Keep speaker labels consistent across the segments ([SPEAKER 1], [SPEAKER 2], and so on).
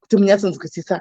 [SPEAKER 1] kuti munyatsonzwisisa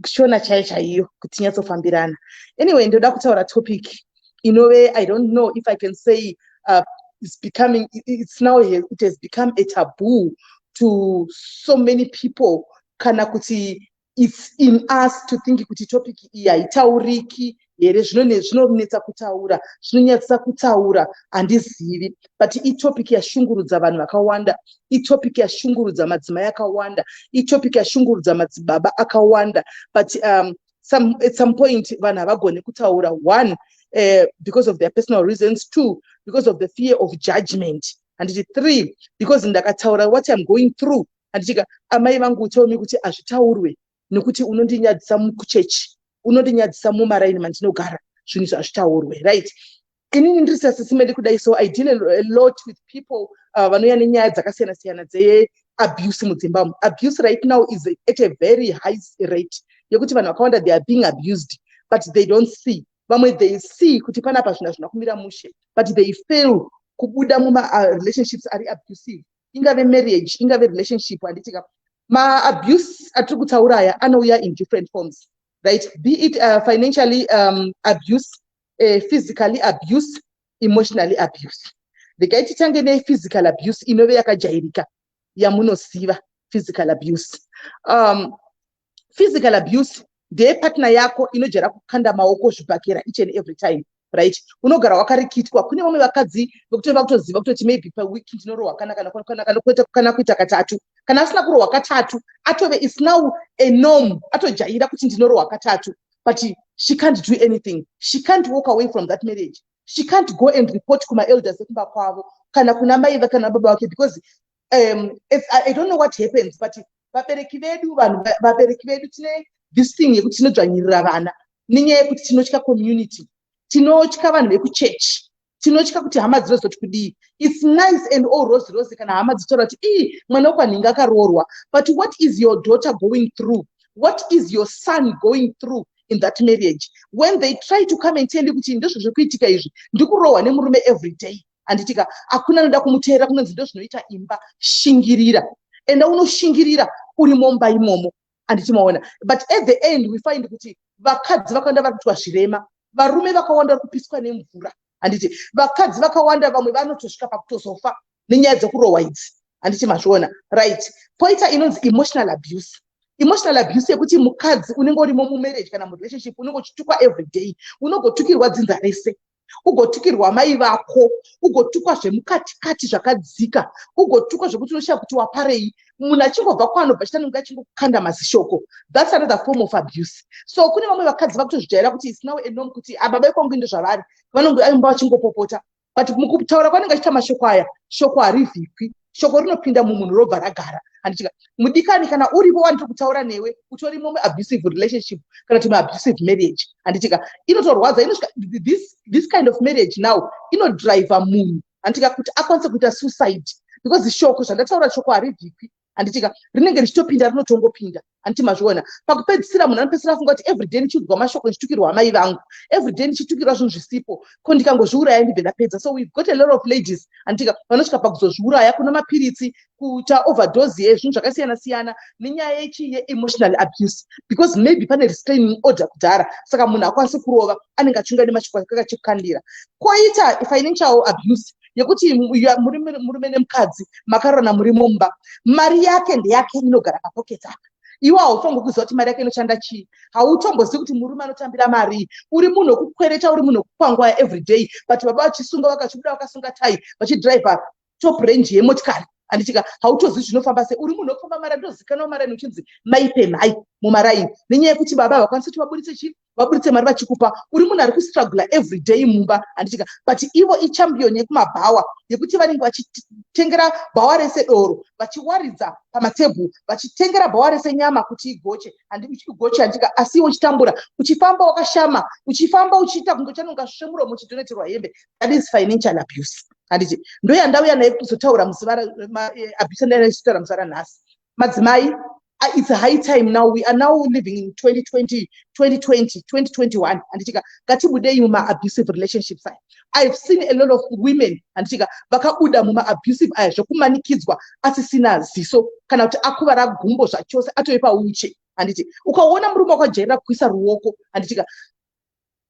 [SPEAKER 1] shona chayo chaiyo kuti tinyatsofambirana anyway ndoda kutaura topic inove i don't know if i can say uh, it's becoming it's now it has become a taboo to so many people kana kuti it's in us to think kuti topic iyi haitauriki here zvinonetsa kutaura zvinonyadzisa kutaura handizivi but itopic yashungurudza vanhu vakawanda itopic yashungurudza madzimai akawanda itopic yashungurudza madzibaba akawanda but um, some, at some point vanhu havagone kutaura one uh, because of their personal reasons two because of the fear of judgment handiti three because ndakataura what iam going through handitika amai vangu tell me kuti hazvitaurwe nekuti unondinyadzisa muchechi unondinyadzisa mumaraini mandinogara zvinhu izvi hazvitaurwe right inini ndiri sasisimendi kudai so i deal a lot with people uh, vanouya nenyaya dzakasiyana siyana dzeabuse mudzimbamo abuse right now is at a very high rate yekuti vanhu vakawanda they are being abused but they don't see vamwe they see kuti panapa zvinhu hazvina kumira mushe but they fail kubuda mumarelationships uh, ari abusive ingave marriage ingave relationship handitika ma abuse atiri kutaura aya anouya in different forms right be it uh, financially um, abuse uh, physically abuse emotionally abuse regai titange nephysical abuse inove yakajairika yamunoziva physical abuse um, physical abuse ndeyepartner yako inojara kukanda maoko zvibhakera each and every time right unogara wakarikitwa kune vamwe vakadzi vekutova kutoziva kutoti maybe paweek ndinorohwa kana kana kana kana kuita kana kuita katatu kana asina kurohwa katatu atove is now a norm atojaira kuti ndinorohwa katatu but she can't do anything she can't walk away from that marriage she can't go and report kumaelders ekumba kwavo kana kuna mai kana baba vake because um, i don't know what happens but vabereki vedu vanhu vabereki vedu tine this thing yekuti tinodzvanyirira vana nenyaya yekuti tinotya community tinotya vanhu vekuchechi tinotya kuti hama dzinozoti kudii its nice and all rose rose kana hama dzitaura kuti ii mwana wekwanhinga akaroorwa but what is your daughter going through what is your son going through in that marriage when they try to come and tell you kuti ndizvo zviri kuitika izvi ndikurohwa nemurume every day handitika hakuna anoda kumuteerera kunonzi ndozvinoita imba shingirira enda unoshingirira uri momba imomo handiti maona but at the end we find kuti vakadzi vakawanda vari kuitwa zvirema varume vakawanda vari kupiswa nemvura handiti vakadzi vakawanda vamwe vanotosvika pakutozofa nenyaya dzekurohwa idzi handiti mazviona right poita inonzi emotional abuse emotional abuse yekuti mukadzi unenge urimo mumarriage kana murelationship unenge uchitukwa every day unogotukirwa dzinza rese ugotukirwa mai vako ugotukwa zvemukatikati zvakadzika ugotukwa zvekuti unoshaya kuti waparei munhu achingobva kwanobva chita nenge achingokanda mazishoko thats another form of abuse so kune vamwe vakadzi vakutozvijaira kuti isnow anom kuti ababa ah, ikwangu inde zvavari vanonge aimba vachingopopota but mukutaura kwanenge achita mashoko aya shoko harivhikwi shoko rinopinda mumunhu robva ragara handichika mudikani kana uripo wandiri kutaura newe utori momwe abusive relationship kana kuti maabusive marriage handichika inotorwadza inosvika this, this kind of marriage now inodriver munhu handichika kuti akwanise kuita suicide because shoko zvandataura shoko harivhikwi handichika rinenge richitopinda rinotongopinda anti mazviona pakupedzisira munhu anopedzisira afunga kuti everyday ndichiudzwa mashoko ndichitukirwa amai vangu everyday ndichitukirwa zvinhu zvisipo ko ndikangozviuraya ndibve ndapedza so we've got a lot of ladies antika vanosvika pakuzozviuraya kuna mapiritsi kuita overdose yezvinhu zvakasiyana siyana nenyaya yechi yeemotional abuse because maybe pane restraining order kudhara saka munhu akwanise kurova anenge achiunga nemashoko akakachekukandira koita financial abuse yekuti murume nemukadzi makarona muri mumba mari yake ndeyake inogara papocket apa iwe haufanirwi kuziva kuti mari yake inoshanda chii hautombozivi kuti murume anotambira mari uri munhu wekukwereta uri munhu wekukwangwaya everyday but baba vachisunga vakachibuda vakasunga tai vachidriver top range yemotikari anditika hautozivi zvinofamba se uri munhu wekufamba mara ndozikanwa mara nuchinzi maipemhai mumaraini nenyaya yekuti baba havakwanisi kuti vaburitse chii vaburitse mari vachikupa uri munhu ari kustrugula every day mumba handichika but ivo ichampion yekumabhawa yekuti vanenge vachitengera bhawa rese doro vachiwaridza pamatebhuru vachitengera bhawa rese nyama kuti igoche igoche handichika asi iwe uchitambura uchifamba wakashama uchifamba uchiita kunge uchanonga svemuromo uchidoneterwa hembe that is financial abuse handiti ndoyandauya naye kuzotaura musi abuse ndaitaura musi ranhasi madzimai ah, it's high time now we are now living in 2020 2020 2021 handitika ngatibudei mumaabusive relationships aya ihave seen a lot of women handitika vakabuda mumaabusive aya zvekumanikidzwa asisina ziso kana kuti akuvara gumbo zvachose atove pauche handiti ukaona murume wakajairira kuisa ruoko handitika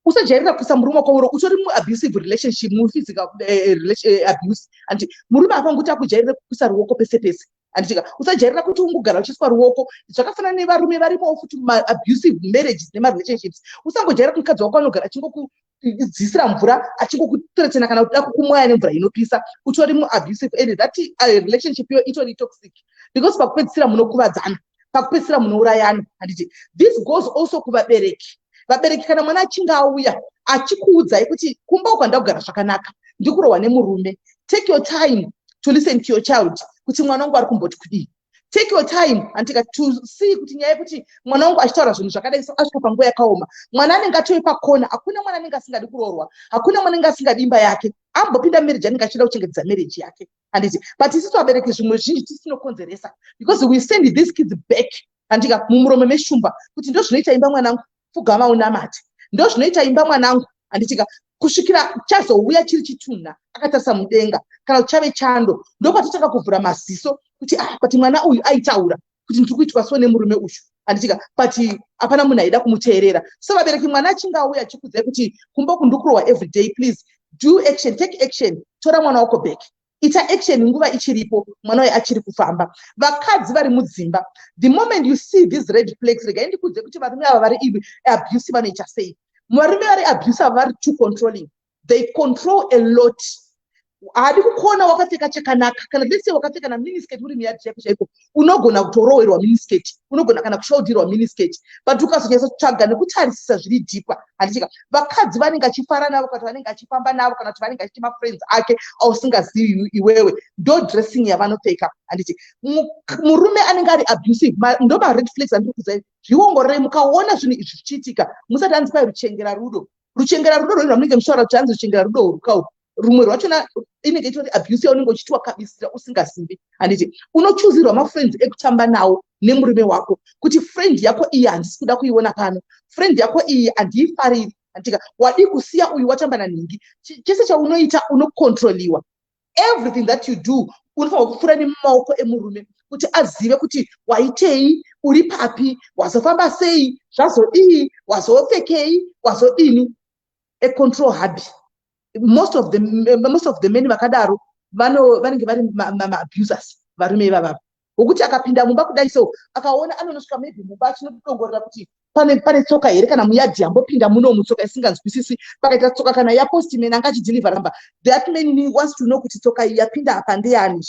[SPEAKER 1] usajairira kuisa murume wako uro utori muabusive relationship muphysical eh, eh, eh, abuse anditi murume apa ngokuti akujairire kuisa ruoko pese pese anditika usajairira kuti ungogara uchiiswa ruoko zvakafanana nevarume varimowo futi maabusive marriages nemarelationships usangojairira kuti mukadzi wako anogara achingoku dzisira mvura achingokuteretena kana kuda kukumwaya nemvura inopisa utori muabusive and that uh, relationship yo itori toxic because pakupedzisira munokuvadzana pakupedzisira munourayana handiti this goes also kuvabereki vabereki kana mwana achinge auya achikuudzai kuti kumba uku handakugara zvakanaka ndikurohwa nemurume take your time to listen to your child kuti mwana wangu ari kumboti kudii take your time antika to see kuti nyaya yekuti mwana wangu achitaura zvinhu zvakadai so asvika panguva yakaoma mwana anenge atove pakona hakuna mwana anenge asingadi kuroorwa hakuna mwana anenge asingadi imba yake ambopinda marriage anenge achida kuchengetedza marriage yake handiti but isi vabereki zvimwe zvinji tisinokonzeresa because we send these kids back handika mumuromo meshumba kuti ndo zvinoita imba mwanangu pfugama unamati ndo zvinoita imba mwanangu handitika kusvikira chazouya chiri chitunha akatarisa mudenga kana kuti chave chando ndokwatotanga kuvhura maziso kuti ah but mwana uyu aitaura kuti ndiri kuitwa so nemurume uyu anditika but hapana munhu aida kumuteerera so vabereki mwana achinge auya achikudzai kuti kumba uku ndikurohwa everyday please do action take action tora mwana wako back ita action nguva ichiripo mwana uyo achiri kufamba vakadzi vari mudzimba the moment you see these red flags regai ndikudze kuti varume ava vari abusi vanoita sei varume vari abusi ava vari too controlling they control a lot haadi kukuona wakapfeka chakanaka kana lese wakapfeka na minisket uri miyadi chaiko chaiko unogona kutorowerwa minisket unogona kana kusholdirwa minisket but ukazonyatsa kutsvaga nekutarisisa zviri dhipa handichika vakadzi vanenge achifara navo kana kuti vanenge achifamba navo kana kuti vanenge achiti mafriends ake ausingazivi iwewe ndo dressing yavanopfeka handiti murume anenge ari abusive ndo mared flags andiri kuzai zviongororei mukaona zvinhu izvi zvichiitika musati anzi kwai ruchengera rudo ruchengera rudo rwei rwamunenge muchitaura kuti hanzi ruchengera rudo urukau rumwe rwachona inenge itori abuse yaunenge uchitiwa kabisira usingasimbi handiti unochuzirwa mafriends ekutamba nawo nemurume wako kuti friend yako iyi handisi kuda kuiona pano friend yako iyi handiifariri handika wadii kusiya uyu watamba nanhingi chese chaunoita unokontroliwa everything that you do unofanirwa kupfuura nemumaoko emurume kuti azive kuti waitei uri papi wazofamba sei zvazodii wazopfekei wazodini a control hubby most of the most of the men vakadaro vanenge vari maabusers varume ivavavo wokuti akapinda mumba kudai so akaona anonosvika maybe mumba achinodongorera kuti pane pane tsoka here kana muyadhi yambopinda muno mutsoka isinganzwisisi pakaita tsoka kana yapostiman anga achidhilivha ramba that man ni wants to know kuti tsoka iyi yapinda apa ndeyani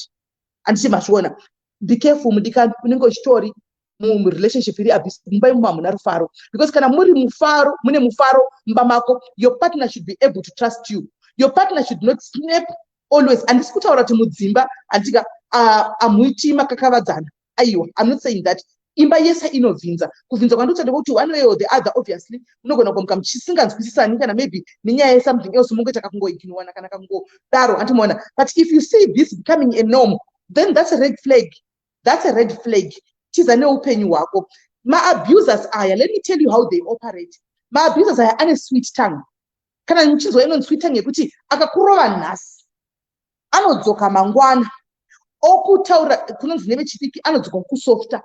[SPEAKER 1] handiti mazviona be careful mudikani unenge uchitori murelationship iri abuse mumba imomo hamuna rufaro because kana muri mufaro mune mufaro mumba mako your partner should be able to trust you your partner should not snap always handisi kutaura kuti mudzimba handika amuitii makakavadzana aiwa im not saying that imba yese inovhinza kuvhinza kwandotaura kuti one way or the other obviously munogona kuamuka muchisinganzwisisani kana maybe nenyaya yesomething else mongoita kakungoiginowana kana kakungodaro hanti moona but if you see this becoming a norm then that's a red flag that's a red flag tiza neupenyu hwako maabusers aya let me tell you how they operate maabusers aya ane sweet tongue kana muchinzwa inonzi kuita nekuti akakurova nhasi anodzoka mangwana okutaura kunonzi nevechidiki anodzoka kusofta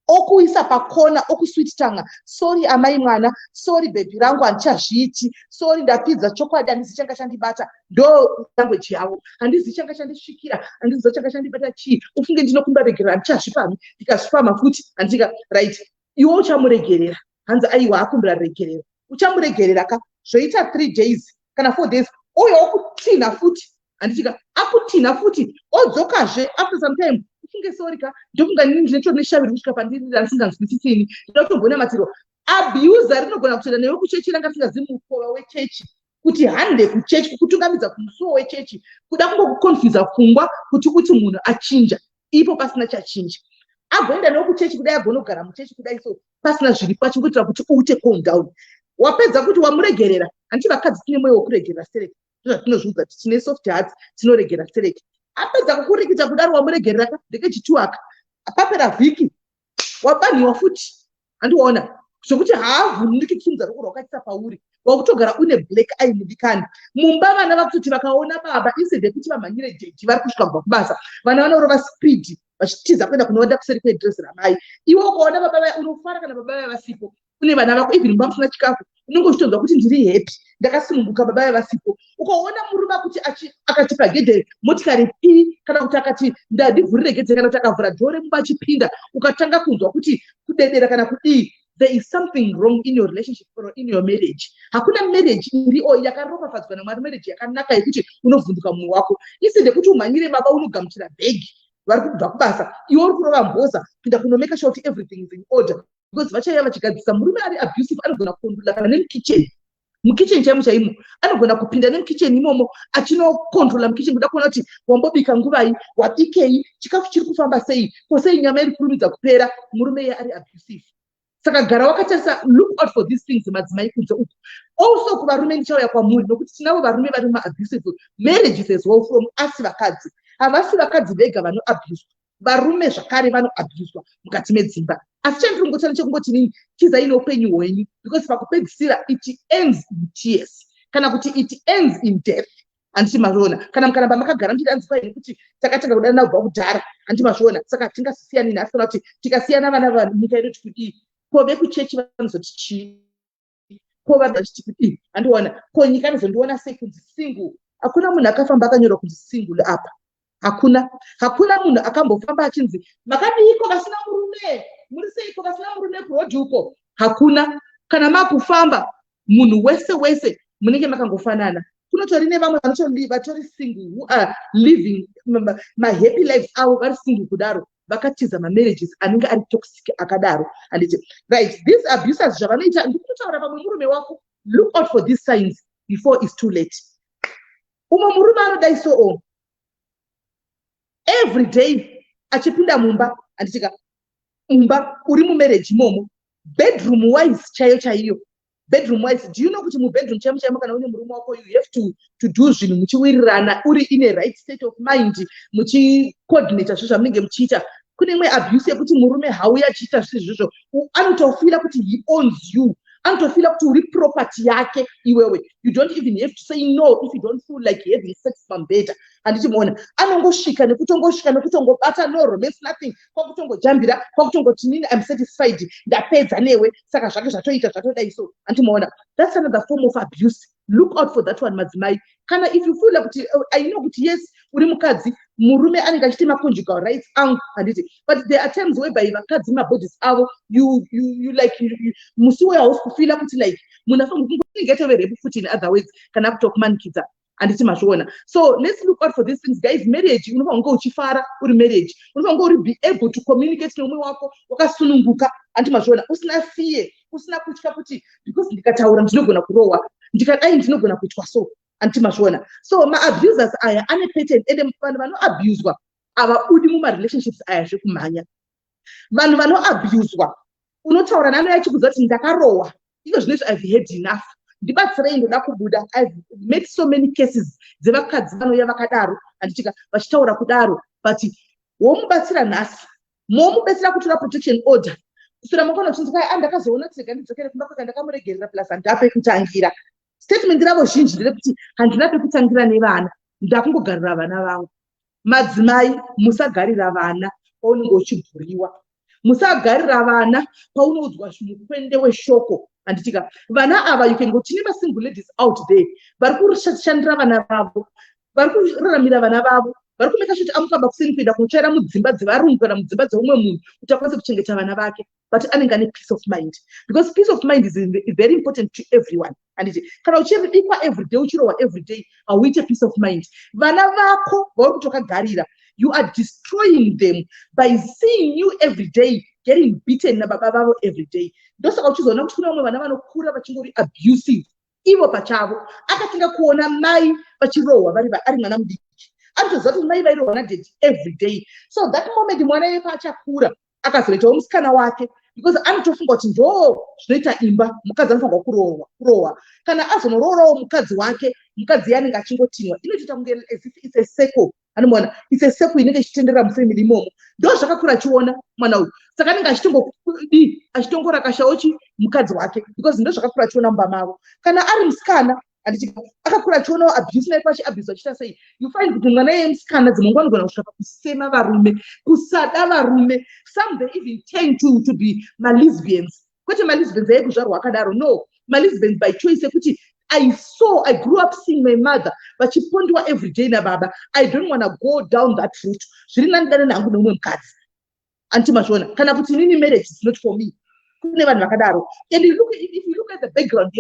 [SPEAKER 1] okuisa pakona okuswit tanga sori amai mwana sori bhebhi rangu handichazviiti sori ndapidza chokwadi handizi changa chandibata ndo language yavo handizi changa chandisvikira handiziva changa chandibata chii ufunge ndinokumba regerera handichazvipami ndikazvipama futi handika right iwe uchamuregerera hanzi aiwa akumbira ruregerero uchamuregerera ka zvoita three days kana four days uyo okutinha futi handitika akutinha futi odzokazve after some time ufunge sori ka ndofunga nini ndine chori neshaviri kusvika pandiri randisinganzwisisini ndinotombonamatirwa abuser rinogona kutoenda newe kuchechi ranga risingazivi mukova wechechi kuti hande kuchechi kukutungamidza kumusuwo wechechi kuda kungokuconfusa pfungwa kuti uti munhu achinja ipo pasina chachinja agoenda newo kuchechi kudai agonogara muchechi kudai so pasina zviri pacho kuitira kuti uite calm down wapedza kuti wamuregerera hanti vakadzi tine mwoyo wekuregerera sereki ndozvatinozviudza kuti tine soft hearts tinoregera sereki apedza kukurikita kudaro wamuregereraka ndekechituaka papera vhiki wabanhiwa futi handiona zvekuti haavhunduki kusimudza ruoko rwakaisa pauri wakutogara une black eye mudikani mumba vana vakutoti vakaona baba instead yekuti vamhanyire jeji vari kusvika kubva kubasa vana vanorova speed vachitiza kuenda kunovanda kuseri kwedress ramai iwe ukaona baba vaya unofara kana baba vaya vasipo kune vana vako even vamusina chikafu unenge uchitonzwa kuti ndiri happy ndakasununguka baba ve vasipo ukaona murume akuti akatipa gedhe motikari pi kana kuti akati ndandivhurire gedhe kana kuti akavhura dhoo remuba achipinda ukatanga kunzwa kuti kudedera kana kudii there is something wrong in your relationship or in your marriage hakuna marriage iri o yakaropafadzwa namwari marriage yakanaka yekuti unovhunduka mumwe wako isi ndekuti umhanyire baba unogamuchira bhegi vari kubva kubasa iwe uri kurova mhoza pinda kunomeka sure kuti everything is in order because vachaiya vachigadzisa murume ari abusive anogona kukontrola kana nemukitchen mukitchen chaimo chaimo anogona kupinda nemukitchen imomo achinokontrola mukitchen kuda kuona kuti wambobika nguvai wabikei chikafu chiri kufamba sei ko sei nyama iri kurumidza kupera murume iye ari abusive saka gara wakatarisa look out for these things madzimai kunze uku also kuvarume ndichauya kwamuri nokuti tinavo varume vari mumaabusive marriages as well from asi vakadzi havasi vakadzi vega vanoabuswa varume zvakare vanoabuswa mukati medzimba asi chandiri kungotana chekungoti nini tizai neupenyu hwenyu because pakupedzisira it ends in tears kana kuti it ends in death handiti mazviona kana mukaramba makagara muchiti anzi kwaini kuti takatanga kudanana kubva kudhara handiti mazviona saka tingasisiyani nhasi kana kuti tikasiyana vana vanyika yedu tikudii ko vekuchechi vanozoti chii ko vabva vachiti kuti ii handiona ko nyika anozondiona sei kunzi single hakuna munhu akafamba akanyora kunzi single apa hakuna hakuna munhu akambofamba achinzi makadiiko vasina murume muri seiko vasina murume kurodi uko hakuna kana makufamba munhu wese wese munenge makangofanana kunotori nevamwe vanotori single who are living mahappy lives avo vari single kudaro vakatiza mamarriages anenge ari toxic akadaro handiti right these abusers zvavanoita ndikutotaura pamwe murume wako look out for these signs before is too late umwe murume anodai so o every day achipinda mumba handitika mumba uri mumarriage imomo bedroom wise chaiyo chaiyo bedroom wise do you know kuti mubedroom chaimo chaimo kana une murume wako you have to, to do zvinhu muchiwirirana uri in a right state of mind muchicoordinata zvo zvamunenge muchiita kune imwe abuse yekuti murume hauya achiita zvisi zvizvo anotofila kuti he owns you anotofila kuti uri property yake iwewe you don't even have to say no if you don't feel like having sex pambeda handichimuona anongosvika nekutongosvika nekutongobata no romance nothing kwakutongojambira kwakutongoti nini im satisfied ndapedza newe saka zvake zvatoita zvatodai so andimoona thats another form of abuse look out for that one madzimai kana if you feel like kuti uh, i know kuti yes uri mukadzi murume anenge achiti maconjugal rights angu handiti but there are times whereby vakadzi mabodies avo you, you, you like musi uyo hausi kufila kuti like munhu afange kunge atove rebu futi in other ways kana kutokumanikidza handiti mazviona so let's look out for these things guys marriage unofanira kunge uchifara uri marriage unofanira kunge uri be able to communicate neumwe wako wakasununguka handiti mazviona usina fear usina kutya kuti because ndikataura ndinogona kurohwa ndikadai ndinogona kuitwa so handiti mazviona so maabusers aya ane pattern ende vanhu vanoabuswa havabudi mumarelationships aya zvekumhanya vanhu vanoabuswa unotaura nano yachikuza kuti ndakarohwa iko zvinoizvo ive had enough ndibatsirei ndoda kubuda ive met so many cases dzevakadzi vanouya vakadaro handitika vachitaura kudaro but womubatsira nhasi momubetsera kutora protection order kusvira mokona kuchinzi kwai andakazoona ah, kuti rega ndidzokere kumba kwaka ndakamuregerera plus handina pekutangira statement ravo zhinji nderekuti handina pekutangira nevana ndakungogarira vana vangu madzimai musagarira vana paunenge uchibhuriwa musagarira vana paunoudzwa mukwende weshoko handitika vana ava you can go tine masingle ladies out there vari kushandira vana vavo vari kuraramira vana vavo vari kumeka shoti amukamba kuseni kuenda kunotsvaira mudzimba dzevarungu kana mudzimba dzeumwe munhu kuti akwanise kuchengeta vana vake but anenge ane peace of mind because peace of mind is very important to everyone anditi kana uchibikwa everyday uchirohwa everyday hauite peace of mind vana vako vauri kutokagarira you are destroying them by seeing you every day getting beaten nababa vavo every day ndosaka uchizoona kuti kune vamwe vana vanokura vachingori abusive ivo pachavo akatanga kuona mai vachirohwa vari ari mwana mudiki anotoziva kuti mai vairohwa nadedi every day so that moment mwana iye paachakura akazoitawo musikana wake because anotofunga kuti ndo zvinoita imba mukadzi anofanirwa kurohwa kurohwa kana azonororawo mukadzi wake mukadzi iye anenge achingotinwa inotoita kunge as if its a circle anomwana it's a circle inenge ichitendera mufamily imomo ndo zvakakura achiona mwana uyu saka anenge achitongodi achitongorakashawo chi mukadzi wake because ndo zvakakura achiona mumba mavo kana ari musikana handiti akakura achionawo abuse naipo achiabuse achiita sei you find kuti mwana yeye musikana dzimwe nguva anogona kusvika pakusema varume kusada varume some they even tend to, to be malesbians kwete malisbens ayekuzvarwa akadaro no malisbens by choice ekuti I saw, I grew up seeing my mother vachipondiwa every day nababa. I don't want to go down that route. Zviri nani dana nangu nomwe mukadzi. Anti mazvona. Kana kuti nini marriage is not for me. Kune vanhu vakadaro. And you look, if you look at the background,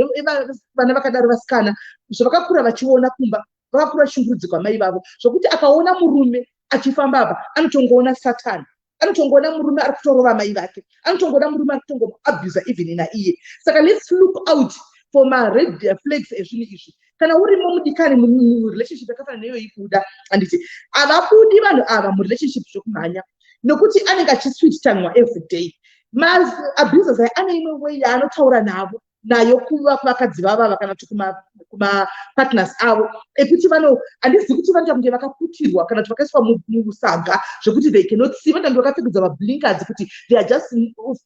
[SPEAKER 1] vana vakadaro vasikana, zvavakakura vachiona kumba, vakura shungurudziko amai vavo zvokuti akaona murume achifamba apa anotongoona satani anotongoona murume ari kutorova amai vake anotongoona murume ari kutongomuabusa even naiye saka let's look out for mared flags ezvinhu izvi kana urimo mudikani murelationship yakafana neyoyi kuda handiti havabudi vanhu ava murelationship zvekumhanya nokuti anenge achisweet tanwa every day maabusers aya ane imwe way yaanotaura navo nayo kuva kuvakadzi vavava kana kuti kumapartners avo ekuti vano handizi kuti vanoita kunge vakaputirwa kana kuti vakaiswa musaga zvekuti they cannot see vanoita kunge vakapfekedzwa mablinkers kuti they are just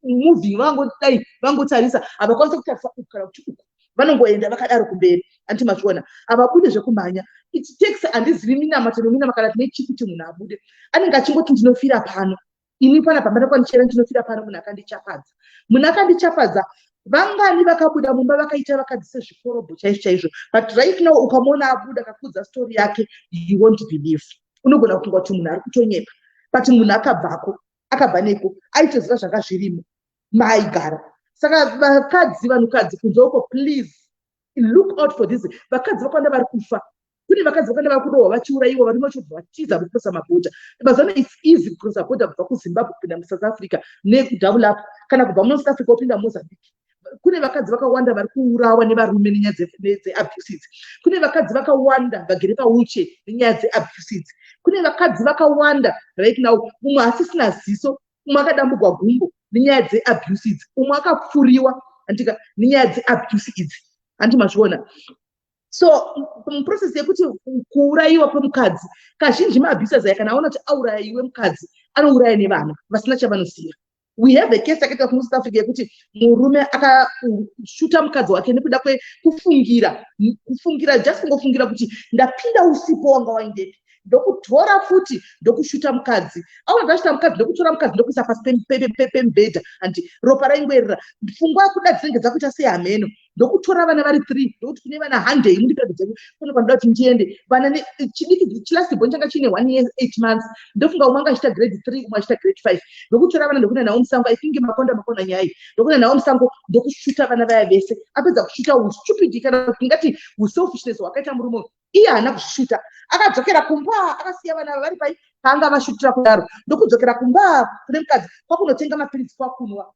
[SPEAKER 1] moving vangodai vangotarisa havakwanisa kutarisa uku kana kuti uku vanongoenda vakadaro kumberi anti mazviona havabude zvekumhanya it takes handizivi minamato nominama kana tine chii kuti munhu abude anenge achingoti ndinofira pano ini pana pambana kwanichera ndinofira pano munhu akandichapadza munhu akandichapadza vangani vakabuda mumba vakaita vakadzi sezvikorobho chaizvo chaizvo but right now ukamona abuda akakudza story yake you won't believe unogona kufunga kuti munhu ari kutonyepa but munhu akabvako akabva neko aitoziva zvanga zvirimo maaigara saka vakadzi vanhukadzi kunze uko please look out for this vakadzi vakawanda vari kufa kune vakadzi vakawanda vari kurohwa vachiurayiwa varume vachibva vatiza kucrosa mabhodha mazuva ano its easy kucrosa bhodha kubva kuzimbabwe kupinda musouth africa nekudouble up kana kubva munosouth africa wopinda mozambique kune vakadzi vakawanda vari kuurawa nevarume nenyaya dzeabuses kune vakadzi vakawanda vagere pauche nenyaya dzeabuses kune vakadzi vakawanda right now mumwe asisina ziso umwe akadambugwa gumbo nenyaya dzeabuse idzi umwe akapfuriwa andika nenyaya dzeabuse idzi handi mazviona so muprocess yekuti kuurayiwa kwemukadzi kazhinji maabusers aya kana aona kuti auraya iwe mukadzi anouraya nevana vasina chavanosiya we have a case yakaita kumusouth africa yekuti murume akashuta mukadzi wake nekuda kwekufungira kufungira just kungofungira kuti ndapinda usipo wanga waindepi ndokutora futi ndokushuta mukadzi awo ndashuta mukadzi ndokutora mukadzi ndokuisa pasi pemubhedha andi ropa raingoerera pfungwa yakuda dzinenge dzakuita sei hameno ndokutora vana vari three ndokuti kune vana handei mundipedze dzeku kune kwandida kuti ndiende vana chidiki chilasibon changa chiine one year eight months ndofunga umwe anga achita grade three umwe achita grade five ndokutora vana ndokuenda nawo musango i think makonda makona nyai ndokuenda nawo musango ndokushuta vana vaya vese apedza kushuta ustupid kana kuti tingati uselfishness hwakaita murume uyu iye haana kuzvishuta akadzokera kumba akasiya vana vari pai paanga vashutira kudaro ndokudzokera kumba kune mukadzi kwakunotenga mapiritsi kwakunwa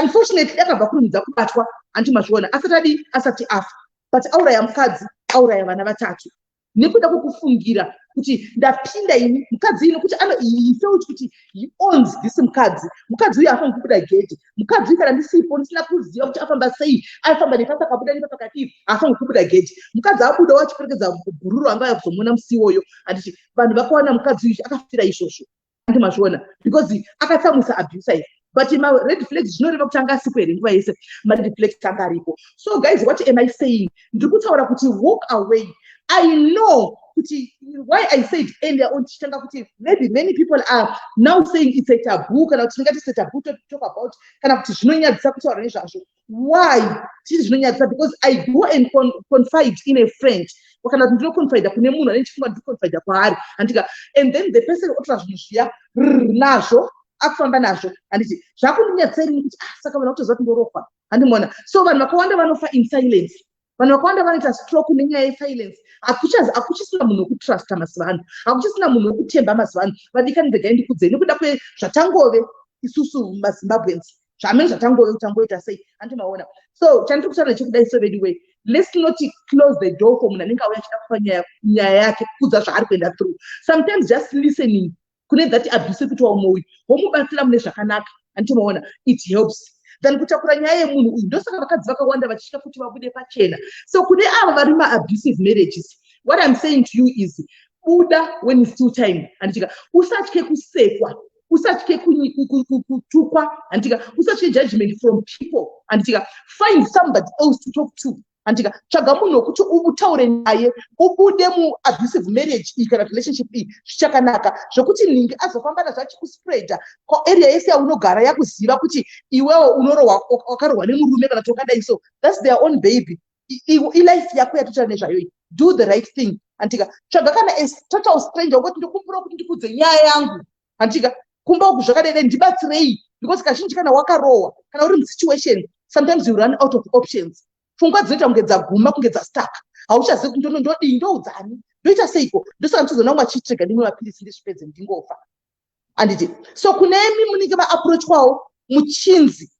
[SPEAKER 1] unfortunately akabva kurumidza kubatwa hanti mazviona asati adii asati afa but auraya mukadzi auraya vana vatatu nekuda kwekufungira kuti ndapinda ini mukadzi ino kuti ano he felt kuti he owns this mukadzi mukadzi uyo afaniri kubuda gedhi mukadzi kana ndisipo ndisina kuziva kuti afamba sei aifamba nepasa akabuda nepa pakati haafange kubuda geji mukadzi abuda wachiperekedza gururu anga aya kuzomuona musi iwoyo handiti vanhu vakawana mukadzi uyu akafira izvozvo andi mazviona because akatsamwisa abusa ife but mared flags zvinoreva kuti anga asipo here nguva yese mared flags anga aripo so guys what am i saying ndiri kutaura kuti walk away i know kuti why i said earlier on tichitanga kuti maybe many people are now saying it's a taboo kana kuti tingati it's a taboo to talk about kana kuti zvinonyadzisa kutaura nezvazvo why tiri zvinonyadzisa because i go and con confide in a friend kana kuti ndinoconfida kune munhu ane chifunga ndinoconfida kwaari handika and then the person otora zvinhu zviya nazvo akufamba nazvo handiti zvakundinyadzisa irini kuti ah, saka vanhu kutoziva kuti ndorohwa handimona so vanhu vakawanda vanofa in silence vanhu vakawanda vanoita stroke nenyaya yesilence hakuchisina munhu wekutrusta mazuva ano hakuchisina munhu wekutemba mazuva ano vadikani regai ndikudzei nekuda kwezvatangove isusu mazimbabweans zvamene zvatangove kutangoita sei handi maona so chandiri kutaura chekudai so vedu wei let's not close the door for munhu anenge auya achida kupa nyaya yake kudza zvaari kuenda through sometimes just listening kune that abuse yekuti waume uyu womubatsira mune zvakanaka anditomaona it helps than kutakura nyaya yemunhu uyu ndosaka vakadzi vakawanda vachitya kuti vabude pachena so kune avo vari maabusive marriages what im saying to you is buda when is still time handitika usatye kusekwa usatye kutukwa handitika usatye judgment from people handitika find somebody else to talk to andika tsvaga munhu wekuti utaure naye ubude muabusive marriage iyi kana relationship iyi zvichakanaka zvekuti nhingi azofamba nazvo achikuspreada koarea yese yaunogara yakuziva kuti iwewo unorohwa wakarohwa nemurume kana kuti wakadai so thats their own baby ilife yako yatotaura nezvayo iyi do the right thing andika tsvaga kana total stranger wekoti ndikumbira kuti ndikudze nyaya yangu hantika kumba uku zvakadai dai ndibatsirei because kazhinji kana wakarohwa kana uri musituation sometimes you run out of options pfungwa dzinoita kunge dzaguma kunge dzastaka hauchazivi kuti ndono ndodii ndoudzani ndoita seiko ndosaka ndichizoona umwe achitrega ndimwe mapirisi ndizvipedze ndingofa anditi so kunemi munenge maaprochwawo muchinzi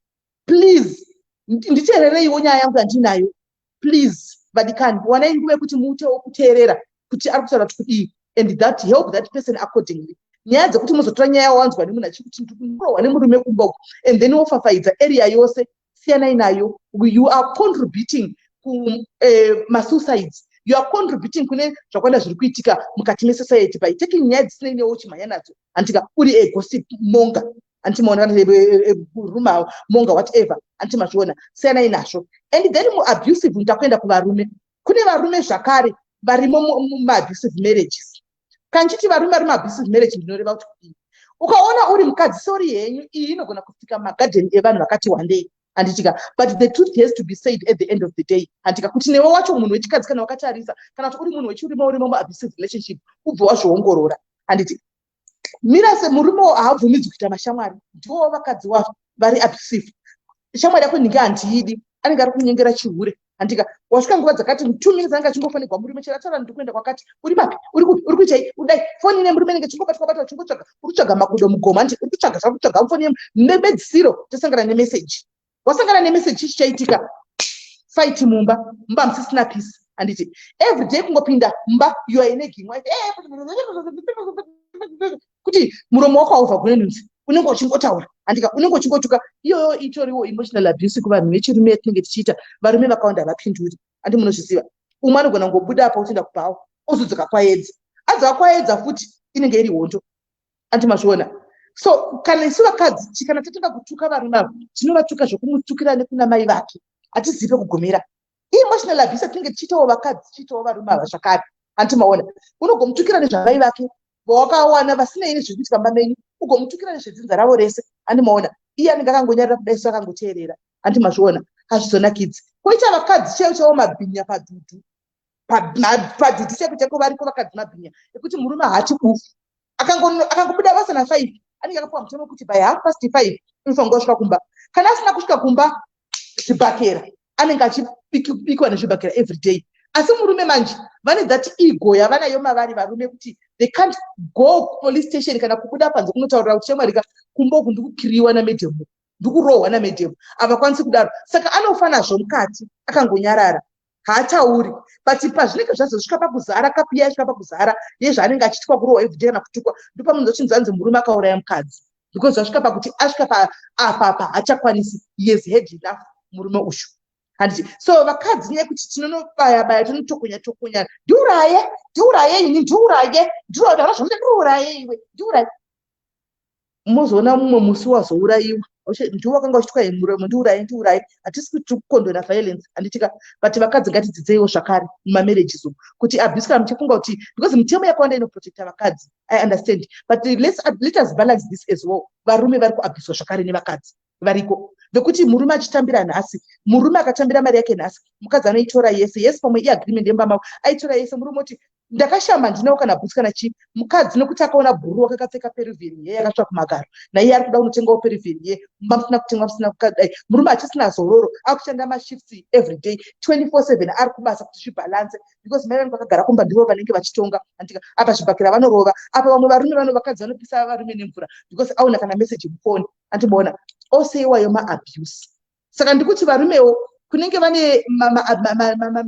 [SPEAKER 1] please nditeerereiwo nyaya yangu yandinayo please vadikani wanai nguva yekuti muutewo kuteerera kuti ari kutaura kuti kudii and that help that person accordingly nyaya dzekuti muzotora nyaya yawanzwa nemunhu achiri kuti ndikurohwa nemurume kumba uku and then wofafaidza area yose siyanai nayo you are contributing kumasuicides eh, uh, you are contributing kune zvakwanda zviri kuitika mukati mesociety by taking nyaya dzisinei newo chimhanya nadzo hantika uri egossip monga anti maona eh, eh, eh, rume awo monga whatever anti mazviona siyanai nazvo and then muabusive mutakuenda kuvarume kune varume zvakare varimo mumaabusive marriages kanchiti varume vari maabusive marriage ndinoreva kuti kudii ukaona uri mukadzi sori yenyu iyi inogona kusika magadheni evanhu vakati wandei handitika but the truth has to be said at the end of the day handitika kuti newe wacho munhu wechikadzi kana wakatarisa kana kuti uri munhu wechiurima urimo muabusive relationship ubve wazviongorora handiti mira semurume haabvumidzwi kuita mashamwari ndiwo vakadzi wavo vari abusive shamwari yako ndinge handiidi anenge ari kunyengera chihure handika wasvika nguva dzakati two minutes anenge achingofonegwa murume chero ataura ndiri kuenda kwakati uri papi uri kupi uri kuitai udai foni ine murume nenge chingobatwa batwa chingotsvaga uri kutsvaga makudo mugoma nje uri kutsvaga zvauri kutsvaga foni yemu nebedzisiro tosangana nemeseji wasangana nemessage chii chichaitika fight mumba mumba musisina peace handiti every day kungopinda mumba you are ine gimwa kuti muromo wako haubva kune nunzi unenge uchingotaura handika unenge uchingotuka iyoyo itoriwo emotional abuse kuvanhu vechirume yatinenge tichiita varume vakawanda havapinduri handi munozviziva umwe anogona kungobuda apa otoenda kubhawa ozodzoka kwaedza adzoka kwaedza futi inenge iri hondo ati mazviona so kana isu vakadzi kana tatanga kutuka varume avo tinovatuka zvokumutukira nekuna mai vake hatizive kugumira emotional abuse tinenge tichiitawo vakadzi tichiitawo varume ava zvakare hanti maona unogomutukira nezvamai vake vawakawana vasinei nezviri kuitika mba menyu ugomutukira nezvedzinza ravo rese handi maona iye anenge akangonyarira kuda isu akangoteerera hanti mazviona hazvizonakidzi koita vakadzi chaiwo chavo mabhinya padudu padziti chake chake variko vakadzi mabhinya ekuti murume haati bufu akangobuda basa nafive anenge akapuwa mutemo wekuti by half past five unofanirwa kusvika kumba kana asina kusvika kumba zvibhakera anenge achibikwa nezvibhakera every day asi murume manje vane that ego yavanayo mavari varume kuti they can't go police station kana kubuda panze kunotaurira kuti chemwarika kumba uku ndikukiriwa namedhemu ndikurohwa namedhemu havakwanisi kudaro saka anofanazvo mukati akangonyarara haatauri but pazvinenge zvazosvika pakuzara kapu iya yasvika pakuzara yezvaanenge achiitwa kurohwa evhidhi kana kutukwa ndopamunhu zochinzi anzi murume akauraya mukadzi because zvasvika pakuti asvika paapapa haachakwanisi yes head enough murume ushu handiti so vakadzi nyaya yekuti tinonobaya baya tinotokonya tokonya ndiuraye ndiuraye ini ndiuraye ndiuraye ndana zvamuita ndiuraye iwe ndiuraye mozoona mumwe musi wazourayiwa ndiwo wakanga uchitwai muromo ndiurayi ndiurayi hatisi kuti tiri kukondwera violence handitika but vakadzi ngatidzidzeiwo zvakare mumamarriages umu kuti abuse kana muchifunga kuti because mitemo yakawanda inoprotecta vakadzi i understand but let's, let us balance this as well varume vari kuabuswa zvakare nevakadzi variko vekuti murume achitambira nhasi murume akatambira mari yake nhasi mukadzi anoitora yese yese pamwe iagreement yemba mavo aitora yese murume oti ndakashama handinawo kana bhutsi kana chii mukadzi nokuti akaona bhuru wakakapfeka perivieni ye yakatsva kumagaro naiye ari kuda kunotengawo perivieni ye mumba musina kutengwa musina kukadai eh, murume hachisina zororo akushanda mashifts every day 24/7 ari kubasa kuti zvibhalanse because mai vanenge vakagara kumba ndivo vanenge vachitonga antika apa zvibhakira vanorova apa vamwe varume vano vakadzi vanopisa varume nemvura because aona kana meseji mufoni andibona ose iwayo maabuse saka ndikuti varumewo kunenge vane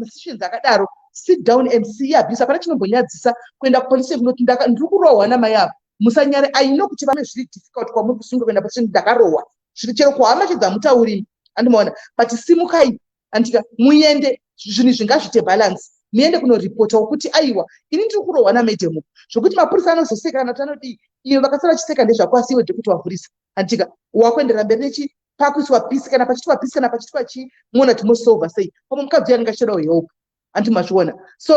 [SPEAKER 1] masessions akadaro sit down and see abuse hapana chinombonyadzisa kuenda kupolice kunoti ndiri kurohwa namai avo musanyare aino kuti vane zviri difficult kwamuri kusunga kuenda police ndakarohwa zviri chero kuhama chedza mutaurimi andimaona but simukai andika muende zvinhu izvi ngazviite balance muende kunorepotawo kuti aiwa ini ndiri kurohwa namadam uku zvokuti mapurisa anozoseka kana kuti anodii iyo vakasara vachiseka ndezvako asi iwe dhokuti wavhurisa andika wakuenderera mberi nechi pakuiswa pisi kana pachitwa pisi kana pachitwa chii muona timosolva sei pamwe mukadzi uyo anenge achitodawo help anti mazviona so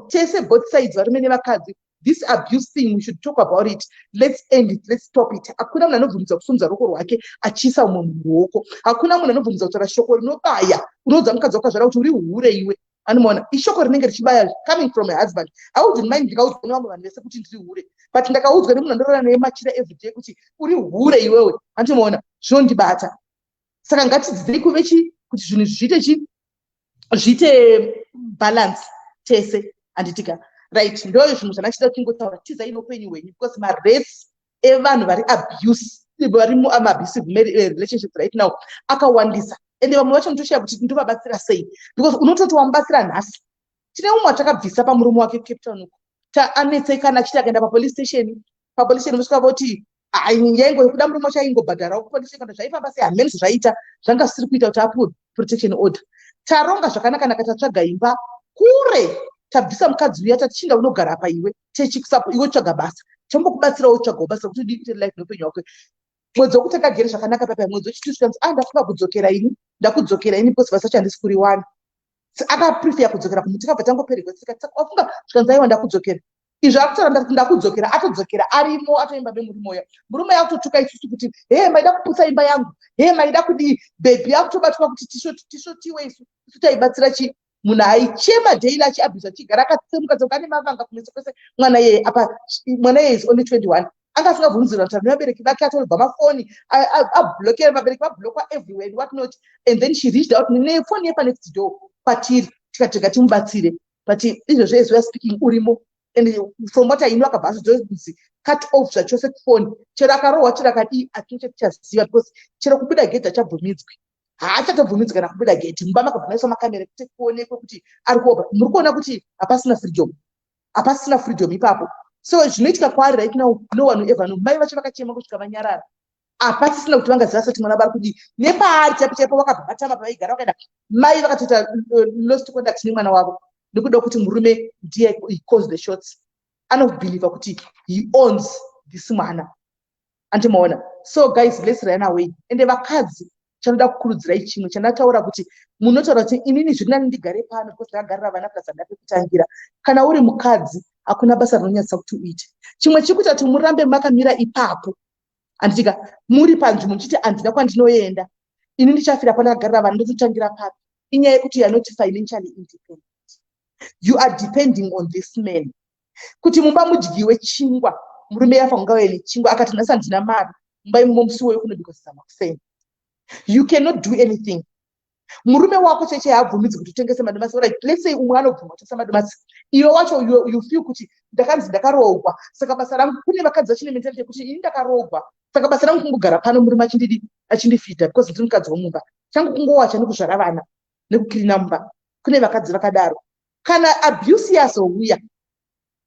[SPEAKER 1] tese both sides varume nevakadzi this abuse thing we should talk about it let's end it let's stop it hakuna munhu anobvumidza kusumudza ruoko rwake achiisa umwe munhu ruoko hakuna munhu anobvumidza kutaura shoko rinobaya unoudza mukadzi wakazvara kuti uri hure iwe anomaona ishoko rinenge richibaya coming from a husband audin mind ndikaudzwa nevamwe vanhu vese kuti ndiri hure but ndakaudzwa nemunhu anorara naye machira everyday kuti uri hure iwewe antomaona zvinondibata saka ngatidzidzei kuve chi kuti zvinhu zviite chi zviite balance tese handitika right ndo zvinhu zvandachida kuchingotaura tizai noupenyu hwenyu because marace evanhu vari abuse vari muabusive eh, relationships right now akawandisa ende vamwe vacho nditoshaya kuti ndovabatsira sei because unototi wamubatsira nhasi tine umwe atakabvisa pamurume wake cape town uko taanetsekana achiti akaenda papolice station papolice rinosvika voti yaingo yekuda murume wacho aingobhadharawo kupolice kana zvaifamba sei hameni zvaita zvanga zvisiri kuita kuti apuwe protection order taronga zvakanakanaka tatsvaga imba kure tabvisa mukadzi uya tatichinda unogara apa iwe techikusapo iwe tsvaga basa tombokubatsirawo tsvagawo basa kuti udii kutere life neupenyu hwako mwedzi wekuti akagere zvakanaka papa mwedzi wechitusikanzi a ah, ndafunga kudzokera ini ndakudzokera ini because basa chandisi kuriwana akaprefeya kudzokera kumuti kabva tangoperegwa sika wafunga zvikanzi aiwa ndakudzokera izvi akutoramba kuti ndakudzokera atodzokera arimo atoimba nemurume uya murume yakutotuka isusu kuti hee maida kuputsa imba yangu hee maida kudii bhebhi yakutobatwa kuti tishotiwe isu isu taibatsira chii munhu aichema daily achiabhisa achigara akatsemuka tsemuka ane mavanga kumeso kwese mwana yeye apa mwana yeye is only 21 anga asingabvunzirwa kuti nevabereki vake atorobva mafoni ablokera vabereki vablokwa everywhere and what not and then she reached out nefoni yepanext door kwatiri tikatega timubatsire but izvezvi as weare speaking urimo and from what i know akabva azodzozi cut off zvachose kufoni chero akarohwa chero akadii atino chatichaziva because chero kubuda gedhi achabvumidzwi haachatobvumidzi kana kubuda gedhi mumba makabva maiswa makamera kuti kuonekwe kuti ari kuoba muri kuona kuti hapasina freedom hapasina freedom ipapo so zvinoitika kwaari right now no one ever no mai vacho vakachema kusvika vanyarara hapasisina kuti vanga ziva soti mwana vari kudii nepaari chaipo chaipo vakabva vatama pavaigara vakaenda mai vakatoita uh, lost conduct nemwana wavo nekuda kuti murume ndiye cause the shots anobhilivha kuti he owns this mwana andimaona so guys let's run away ende vakadzi chanoda kukurudzirai chimwe chandataura kuti munotaura kuti inini zviri nani ndigare pano because ndakagarira vana plus andina pekutangira kana uri mukadzi hakuna basa rinonyatsa kuti uite chimwe chiri kuita kuti murambe makamira ipapo handitika muri panzvi muchiti handina kwandinoenda ini ndichafira pandakagarira vanhu ndototangira papi inyaya yekuti youare not financially independent you are depending on this man kuti mumba mudyiwe chingwa murume yafa kungauye nechingwa akati nhasi handina mari mumba imomo musi woyo kunobikwa zizama kuseni you cannot do anything murume wako cheche haabvumidzi kuti utengese madomasi right let's say umwe anobvuma kutengesa madomasi iwe wacho you, you feel kuti ndakanzi ndakaroogwa saka basa rangu kune vakadzi vachine mentality yekuti ini ndakaroogwa saka basa rangu kungogara pano murume achindidi achindifita because ndiri mukadzi womumba changu kungowacha nekuzvara vana nekukirina mumba kune vakadzi vakadaro kana abuse yazouya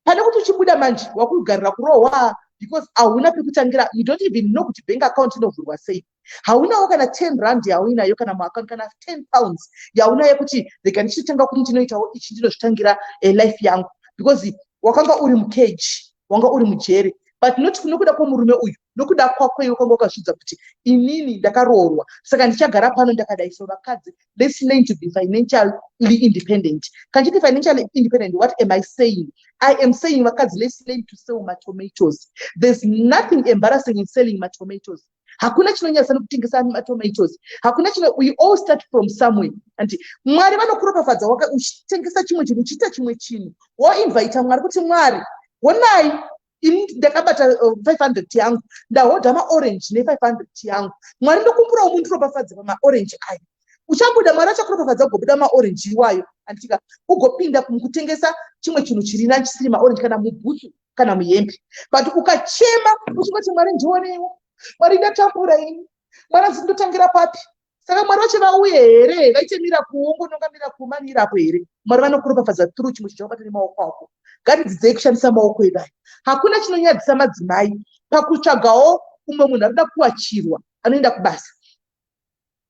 [SPEAKER 1] pane kuti uchibuda manje wakugarira kurohwa because hauna pekutangira you don't even know kuti bank account inovhurwa sei haunawo kana 10 rand yauinayo kana muaccount kana 10 pounds yaunayo kuti rega ndichitotanga kuti ndinoitawo ichi ndinozvitangira eh, life yangu because wakanga uri mukeji wanga uri mujeri but not nokuda kwomurume uyu nokuda kwako iwe kwanga wakazvidza kuti inini ndakaroorwa saka ndichagara pano ndakadai so vakadzi let's learn to be financially independent kachiti financially independent what am i saying i am saying vakadzi let's learn to sell matomatoes there's nothing embarrassing in selling matomatoes hakuna chinonyasa nekutengesa matomatoes hakuna chino we all start from somewhere anti mwari vanokuropafadza waka uchitengesa chimwe chinhu uchiita chimwe chinhu woinvaita mwari kuti mwari honai ini ndakabata 500 eh, yangu ndahodha maorange ne500 yangu mwari ndokumburawo mundiropafadze pamaorange ayo uchabuda mwari achakuropafadza ugobuda maorange iwayo anditika ugopinda kutengesa chimwe chinhu chiri na chisiri maorange kana mubhutsu kana muhembe but ukachema uchingoti mwari ndionewo mwari ndatambura ini mwari azindotangira papi saka mwari vacho vauye here vaite mirakuwo ngononga mirakuwo mani irapo here mwari vanokuropafadza tru chimwe chinhu chakabata nemaoko ako ngatidzidzei kushandisa maoko edu aya hakuna chinonyadzisa madzimai pakutsvagawo umwe munhu anoda kuwachirwa anoenda kubasa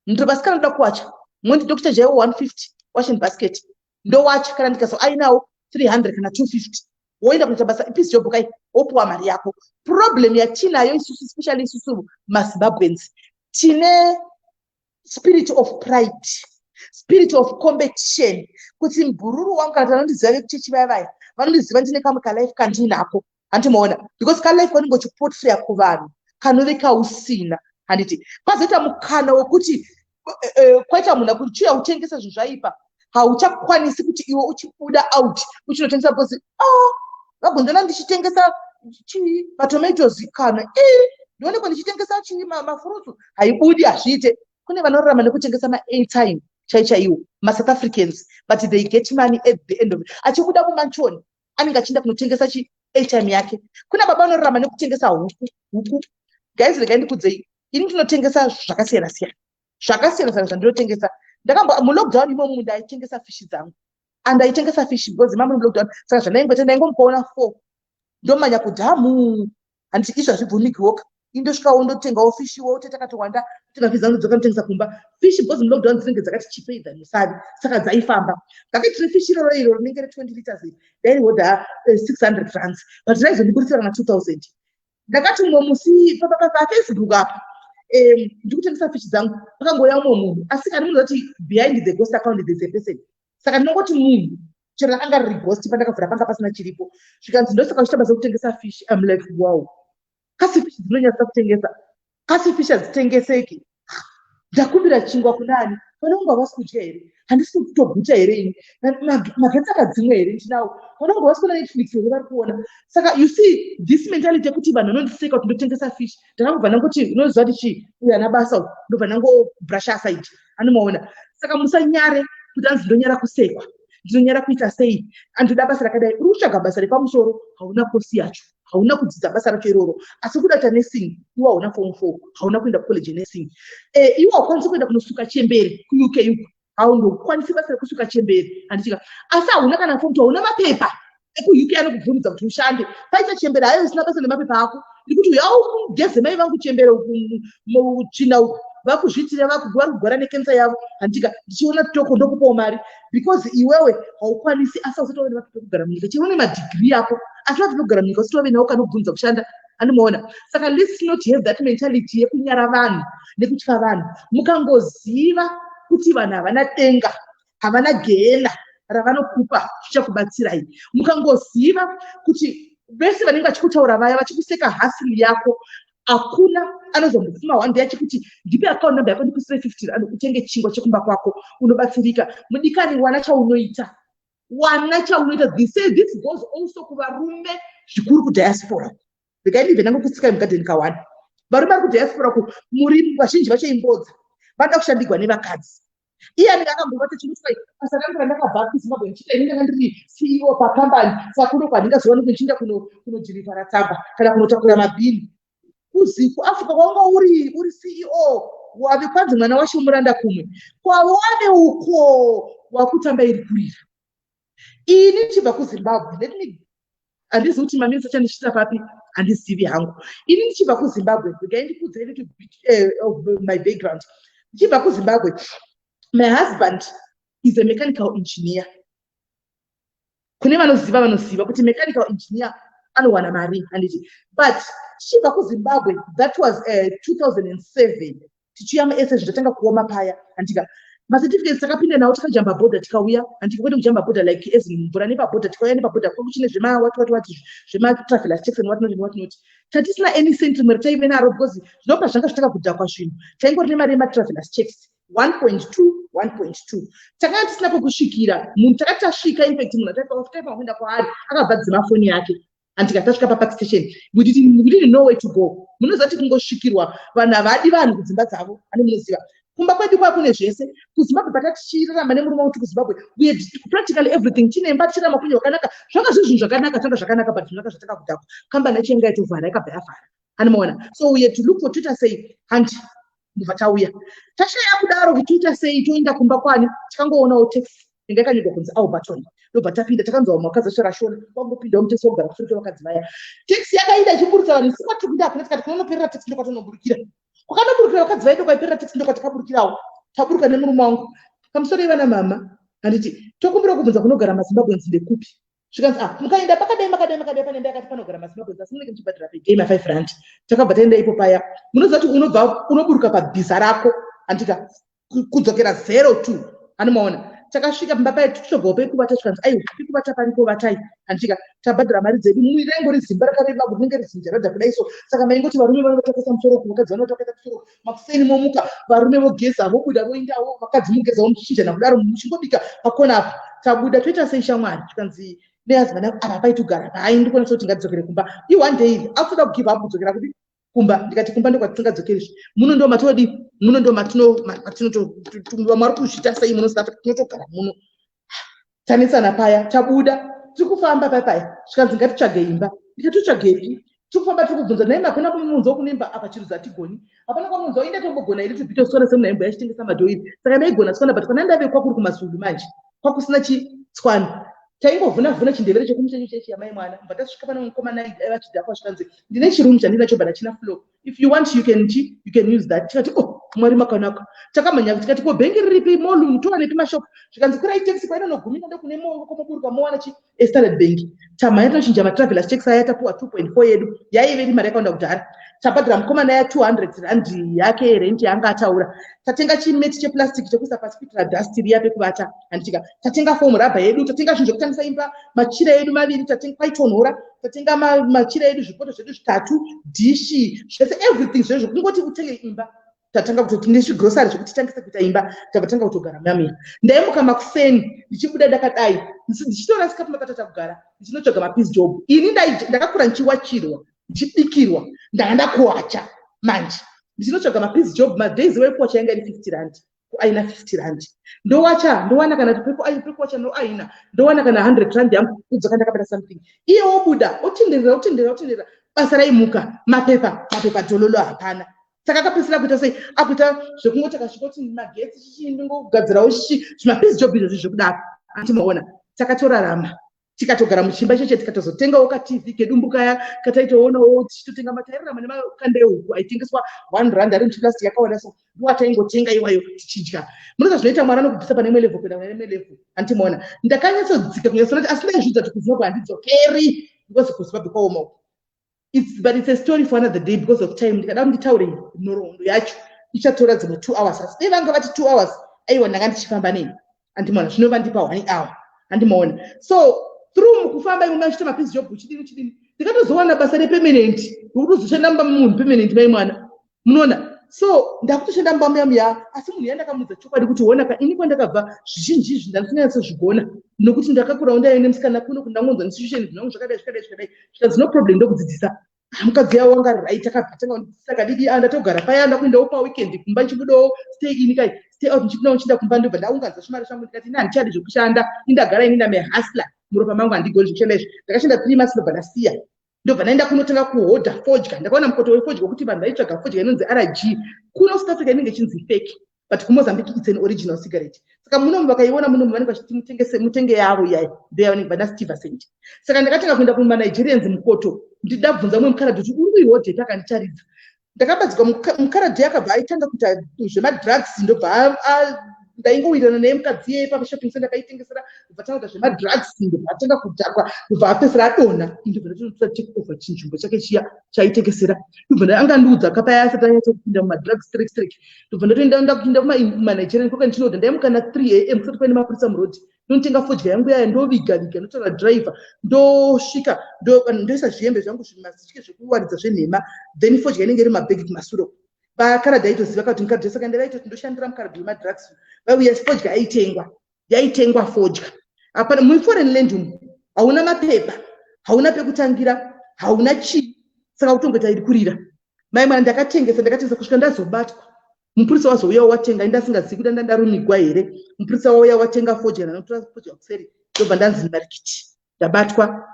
[SPEAKER 1] ndiro vasikana anoda kuwacha mondi dokita jaiwo 150 washin basket ndowatya kana ndikazo ainawo 300 kana 250 woenda kuita basa ipiece job kai wopuwa mari yako problem yatinayo isusu especially isusu mazimbabweans tine spirit of pride spirit of competition kuti mbururu wangu kana tanondiziva vekuchechi vaya vaya vanondiziva ndine kamwe kalife kandinako hanti moona because kalife kanenge uchipotraya kuvanhu kanove kausina handiti pazoita mukana wekuti eh, eh, kwaita munhu akuti chiuya kutengesa zvinhu zvaipa hauchakwanisi kuti iwe uchibuda out uchinotengesa because o oh, vagonzona ndichitengesa chii matomatoes kana i ndionekwa ndichitengesa chii mafurutsu haibudi hazviite kune vanorarama nekutengesa maairtime chaichaiwo masouth africans but they get money at the end of it achibuda kumanchoni anenge achienda kunotengesa chi airtime yake kuna baba anorarama nekutengesa huku huku guys regai ndikudzei ini ndinotengesa zvakasiyana siyana zvakasiyana siyana zvandinotengesa ndakambo mulockdown imomu ndaitengesa fishi dzangu and aitengesa fishi because imamuri mulockdown saka zvandaingoita ndaingomupaona four ndomanya kudhamu handiti izvi hazvibvumikiwoka indosvika wondotengawo fish iwe utete akatowanda tenga fish dzanodzoka notengesa kumba fish because mulockdown dzinenge dzakati chipei than musavi saka dzaifamba ndakati refish iroro iro rinenge re20 liters iri dairihodha 600 eh, francs but raizondiburisira kana 2000 ndakati umwe musi pafacebook apa ndikutengesa fish dzangu pakangouya umwe munhu asi kani munhu zati behind the ghost account there's a person saka ndinongoti munhu chero rakanga riri ghost pandakavhura panga pasina chiripo zvikanzi ndosaka uchita basa kutengesa fish im like wow kasi fish dzinonyatsa kutengesa kasi fish hadzitengeseki ndakumbira chingwa kuna ani vana vangu havasi kudya here handisi kutoguta here ini magetsi akadzimwa here ndinawo vana vangu havasi kuona netflix here vari kuona saka you see this mentality yekuti vanhu vanondiseka kuti ndotengesa fish ndava kubva nanguti unoziva kuti chii uyo ana basa uku ndobva nangobrusha aside anomaona saka musanyare kuti anzi ndonyara kusekwa ndinonyara kuita sei andoda basa rakadai uri kutsvaga basa repamusoro hauna kosi yacho hauna kudzidza basa racho iroro asi kuda kuita nursing iwe hauna form four hauna kuenda kucollege yenursing e, iwe haukwanisi kuenda kunosuka chembere kuuk uku haundokwanisi basa rekusuka chembere handichika asi hauna kana fomu hauna mapepa ekuuk anokubvumidza kuti ushande paita chembere hayo isina basa nemapepa ako ndikuti uya ugeze mai vangu chembere china uku vakuzviitira vakugwara kugwara nekensa yavo handichika ndichiona toko ndokupawo mari because iwewe haukwanisi asi ausati wave nemapepekugara munyika chero une madigiri yako asi vati vekugara munyika usati wave nawo kanobvunza kushanda anomuona saka let's not have that mentality yekunyara vanhu nekutya vanhu mukangoziva kuti vanhu havana denga havana gehena ravanokupa zvichakubatsirai mukangoziva kuti vese vanenge vachikutaura vaya vachikuseka hasili yako hakuna anozombofuma one day achikuti ndipe account number yako ndikusire fifty rand utenge chingwa chekumba kwako unobatsirika mudikani wana chaunoita wana chaunoita they say this goes also kuvarume zvikuru kudiaspora ndikaindive nange kutsikai mugadheni kawani varume vari kudiaspora ku muri vazhinji vacho imbodza vanoda kushandigwa nevakadzi iye anenge akambovata chimutsai basa rangu randakabva kuzimbabwe ndichiita ini ndanga ndiri ceo pakambani saka kuno kwandingazowani kuchinda kunodhirivhara tsamba kana kunotakura mabhini kuziku africa kwanga uri uri ceo wave kwanzi mwana wacho muranda kumwe kwawave uko wakutamba iri kurira ini ndichibva kuzimbabwe let me handizi kuti maminisa chandichita papi handizivi hangu ini ndichibva kuzimbabwe regai ndikudza ini eh, my background ndichibva kuzimbabwe my husband is a mechanical engineer kune vanoziva vanoziva kuti mechanical engineer anowana mari handiti but tichibva kuzimbabwe that was uh, eh, 2007 tichiuya muese zvinhu tatanga kuoma paya handika macertificates takapinda nawo tikajamba border tikauya handika kwete kujamba border like as mvura nepaborder tikauya nepaborder kwangu chine zvemawatiwatiwati zvematravelas taxon watinoti newatinoti tatisina any cent rimwe rataive naro because zvinopa zvanga zvatanga kudhakwa zvinhu taingori nemari yematravelas checks 1.2 1.2 takanga tisina kwekusvikira munhu takati tasvika infact munhu ataitaipa kuenda kwaari akabva dzima foni yake and tikati tasvika papark station we didn't know way to go munoziva kuti kungosvikirwa vanhu havadi vanhu kudzimba dzavo ane munoziva kumba kwedu kwaa kune zvese kuzimbabwe patatichirarama nemurume uti kuzimbabwe practically everything tine imba tichirama kunye wakanaka zvanga zvezvinhu zvakanaka tanga zvakanaka but zvinaka zvatanga kudhakwa kambani yacho yanga yatovhara yakabva yavhara anomaona so we had to look for twitter say hanti ndobva tauya tashaya kudaro kuti toita sei toenda kumba kwani tikangoonawo taxi inga yakanyorwa kunzi alberton ndobva tapinda takanzwa vamwe vakadzi vashorashora kwangopindawo mutesi wogara kusure kwevakadzi vaya taxi yakainda ichiburutsa vanhu isu kwatiri kuinda hakuna tikati kunonoperera taxi ndokwatonoburukira kwakanoburukira vakadzi vaye ndokwaiperera taxi ndokwatakaburukirawo taburuka nemurume wangu pamusoro ivana mama handiti tokumbira kubvunza kunogara mazimbabweans ndekupi zvikanzi ah mukaenda pakadai makadai makadai pane ndakati panogara masimabwenzi asi munenge muchibhadhara per day ma5 rand takabva taenda ipo paya munoziva kuti unobva unoburuka pabhiza rako handika kudzokera zero two anomaona takasvika pamba paye tichitobvawo pekuvata tikanzi aiwa pekuvata paripo vatai handika tabhadhara mari dzedu mumwe raingori zimba rakareba kuti rinenge rizinja rada kudai so saka maingoti varume vanotakisa musoro ku vakadzi vanotakisa musoro makuseni momuka varume vogeza vobuda voindawo vakadzi mogeza vomchinjana kudaro muchingobika pakona apa tabuda toita sei shamwari tikanzi nehusband yangu apa paiti ugara paai ndikwanisa kuti ngatidzokere kumba i one day iri akutoda kugive up kudzokera kuti kumba ndikati kumba ndokwatitingadzokeri zve muno ndo matodi muno ndo matinototumbiwa mwari kuzvita sei muno south africa tinotogara muno tanetsana paya tabuda tiri kufamba paya paya zvikanzi ngatitsvage imba ndikatitsvagepi tiri kufamba tiri kubvunza naye makona kumunzwa kunemba apa chirudzi hatigoni hapana kwamunzwa inde tombogona iri tibvita kusora semuna hembo yachitengesa madhoiri saka ndaigona tswana but kwana ndave kwakuri kumasulu manje kwakusina chitswana taingovhuna vhuna chindevere chekumushenyu chechi yamai mwana mva tasvika pane mukomana aiva chidhakwa zvikanzi ndine chirumu chandinacho but hachina flow if you want you can chi you can use that tikati oh mwari makanaka takamhanya tikati ko bhengi riripi molum towanepi mashop zvikanzi kurai taxi painonogumina ndokune moongo komoburuka mowana chi estarad bhengi tamhanya tinochinja matravelers taxi aya tapuwa 2.4 yedu yaive iri mari yakawanda kudhara tabhadhira mukomana ya 200 rand yake yerent yaanga ataura tatenga chimeti cheplastic chekuisa pasi kuitira dust riya pekuvata handitika tatenga fomu rabha yedu tatenga zvinhu zvekutangisa imba machira edu maviri tatenga paitonhora tatenga machira edu zvipoto zvedu zvitatu dhishi zvese everything zvezvo kungoti utenge imba tatanga kutoti nezvigrosari zvekuti titangise kuita imba takatanga kutogara mamira ndaimuka makuseni ndichibuda ndakadai ndichitora sikapu makatata kugara ndichinotsvaga mapis job ini ndakakura ndichiwachirwa ndichibikirwa ndanga ndakuwacha manje ndichinotsvaga mapis job madays wekuwacha yanga iri 50 rand ko aina 50 rand ndowacha ndowana kana tipepo ayi pepo wacha no aina ndowana kana 100 rand yangu kudzoka ndakabata something iye wobuda otenderera otenderera otenderera basa raimuka mapepa mapepa dololo hapana saka akapedzisira kuita sei akuita zvekungoti akasvika kuti magetsi chichii ndingogadzirawo chichi zvimapizi job izvozvi zvekudaro antimaona takatorarama tikatogara muchimba cheche tikatozotengawo katv kedumbu kaya kataitoonawo tichitotenga matairama nemakanda ehuku aitengeswa one rand ari muchiplastic yakawanda so ndoataingotenga iwayo tichidya munoza zvinoita mwana anokubvisa pane imwe level kuenda kune imwe level hanti maona ndakanyatsodzika kunyatsonati asi ndaizvidza kuti kuzimbabwe handidzokeri because kuzimbabwe kwaoma uku it's, but it's a story for another day because of time ndikada kunditaure nhoroondo yacho ichatora dzimwe two hours asi dei vanga vati two hours aiwa ndanga ndichifamba nei andimaona zvino vandipa one hour andimaona so through mukufamba imwe machita mapizi job chidini chidini ndikatozowana basa repemenent rikutozoshanda mumba memunhu pemenent mai mwana munoona so ndakutoshanda mumba muya muya asi munhu yandakamuudza chokwadi kuti honaka ini kwandakabva zvizhinji izvi ndandisinganyatsozvigona nokuti ndakakurawo ndaive nemusikana kuno kuti ndangonzwa nesitution zvinangu zvakadai zvakadai zvakadai zvikanzi no problem ndokudzidzisa mukadzi yavo wanga rit akabva tanga kundidzidzisa kadidi a ah, ndatogara paya ndakuendawo paweekend kumba ndichibudawo stay ini kai stay out ndichipinda ndichienda kumba ndobva ndaunganza zvimari zvangu ndikati ini handichadi zvekushanda indagara ini ndamehasla muropa mangu handigoni zvekushanda izvi ndakashanda three months ndobva ndasiya ndobva ndaenda kunotanga kuhodha fodya ndakaona mukoto wefodya wekuti vanhu vaitsvaga fodya inonzi rg kuno south africa inenge ichinzi fake but kumozambique its an original cigarette saka munomu vakaiona munomu vanenge vachiti mutengese mutenge yavo iyayi ndeya vanenge vana steve sent saka ndakatanga kuenda kumanigerians mukoto ndichida bvunza umwe mukharadhi kuti uri kuihodhepi akandicharidza ndakabatsirwa muka- mukaradhi akabva aitanga kuita zvemadrugs ndobva a- a- ndaingowirirana naye mukadzi iyeye pashopping center akaitengesera ndobva tanoita zvemadrugs ndobva atanga kudhakwa ndobva apesera adonha ndobva ndatotora take over chinzvimbo chake chiya chaitengesera ndobva nda- anga andiudza ka paya asati anyatsa kupinda mumadrugs straight straight ndobva ndatoenda ndakuinda kumanigerian koka ndichinodha ndaimuka na 3 am kusati paine mapurisa muroad ndinotenga fodya yangu yaya ndoviga viga ndotaura driver ndosvika ndoisa zvihembe zvangu zvimasitike zvekuwaridza zvenhema then fodya inenge iri mabhegi kumasure vakaradhi aitoziva kati mukadresa kaende vaitoti ndoshandira mukaradhi wemadrugs vauya fodya aitengwa yaitengwa fodya hapana muforeign land umu hauna mapepa hauna pekutangira hauna chii saka kutongoita iri kurira mai mwana ndakatengesa ndakatengesa kusvika ndazobatwa mupurisa wazouya watenga ini ndasingazivi kuti ndandarumigwa here mupurisa wauya watenga fodya ndanotora fodya kuseri ndobva ndanzi marikiti ndabatwa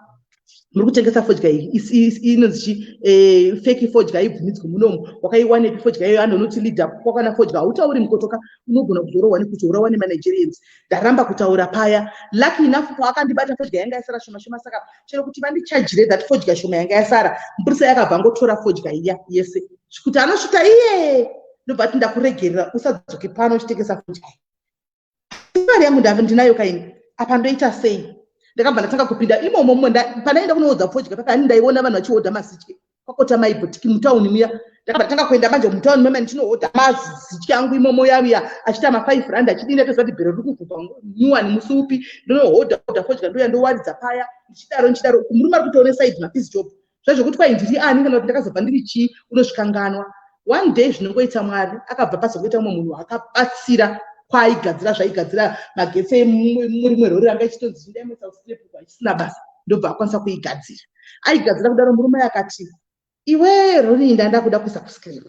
[SPEAKER 1] muri kutengesa fodya inonzi chi eh, feki fodya aibvumidzwi munomu wakaiwanepi fodya iyoyo anhu unoti leader kwakwana fodya hautauri mukotoka unogona kuzorohwa nekuti urawa nemanigerians ndaramba kutaura paya lucky enough paakandibata fodya yanga yasara shoma shoma saka chero kuti vandichajire that fodya shoma yanga yasara mupurisa yakabva ngotora fodya iya yese kuti anosvita iye ndobva ti ndakuregerera usadzoke pano uchitengesa fodya mari yangu ndave ndinayo kaini apa ndoita sei ndakabva ndatanga kupinda imomo mumwe panaenda kunoodza fodya paka ani ndaiona vanhu vachiodha masitye kwakota mai bhutiki mutown muya ndakabatanga kuenda manje mutown mama ndichinohodha mazizitya yangu imomo yaviya achiita mafive rand achidini atoziva kuti bhero riri kuvhupa nyuwani musi upi ndinohodha hodha fodya ndouya ndowaridza paya ndichidaro ndichidaro uku murume ari kutoone saidi mafizi job zvaizvokuti kwai ndiri ani kana kuti ndakazobva ndiri chii unosvikanganwa one day zvinongoita mwari akabva pazokuita umwe munhu akabatsira kwaaigadzira zvaigadzira magetsi emurimwe rori ranga ichitonzi zvindaimoisa usinepuku achisina basa ndobva akwanisa kuigadzira aigadzira kudaro murume akati iwe roni ndanda kuda kuisa kuscreen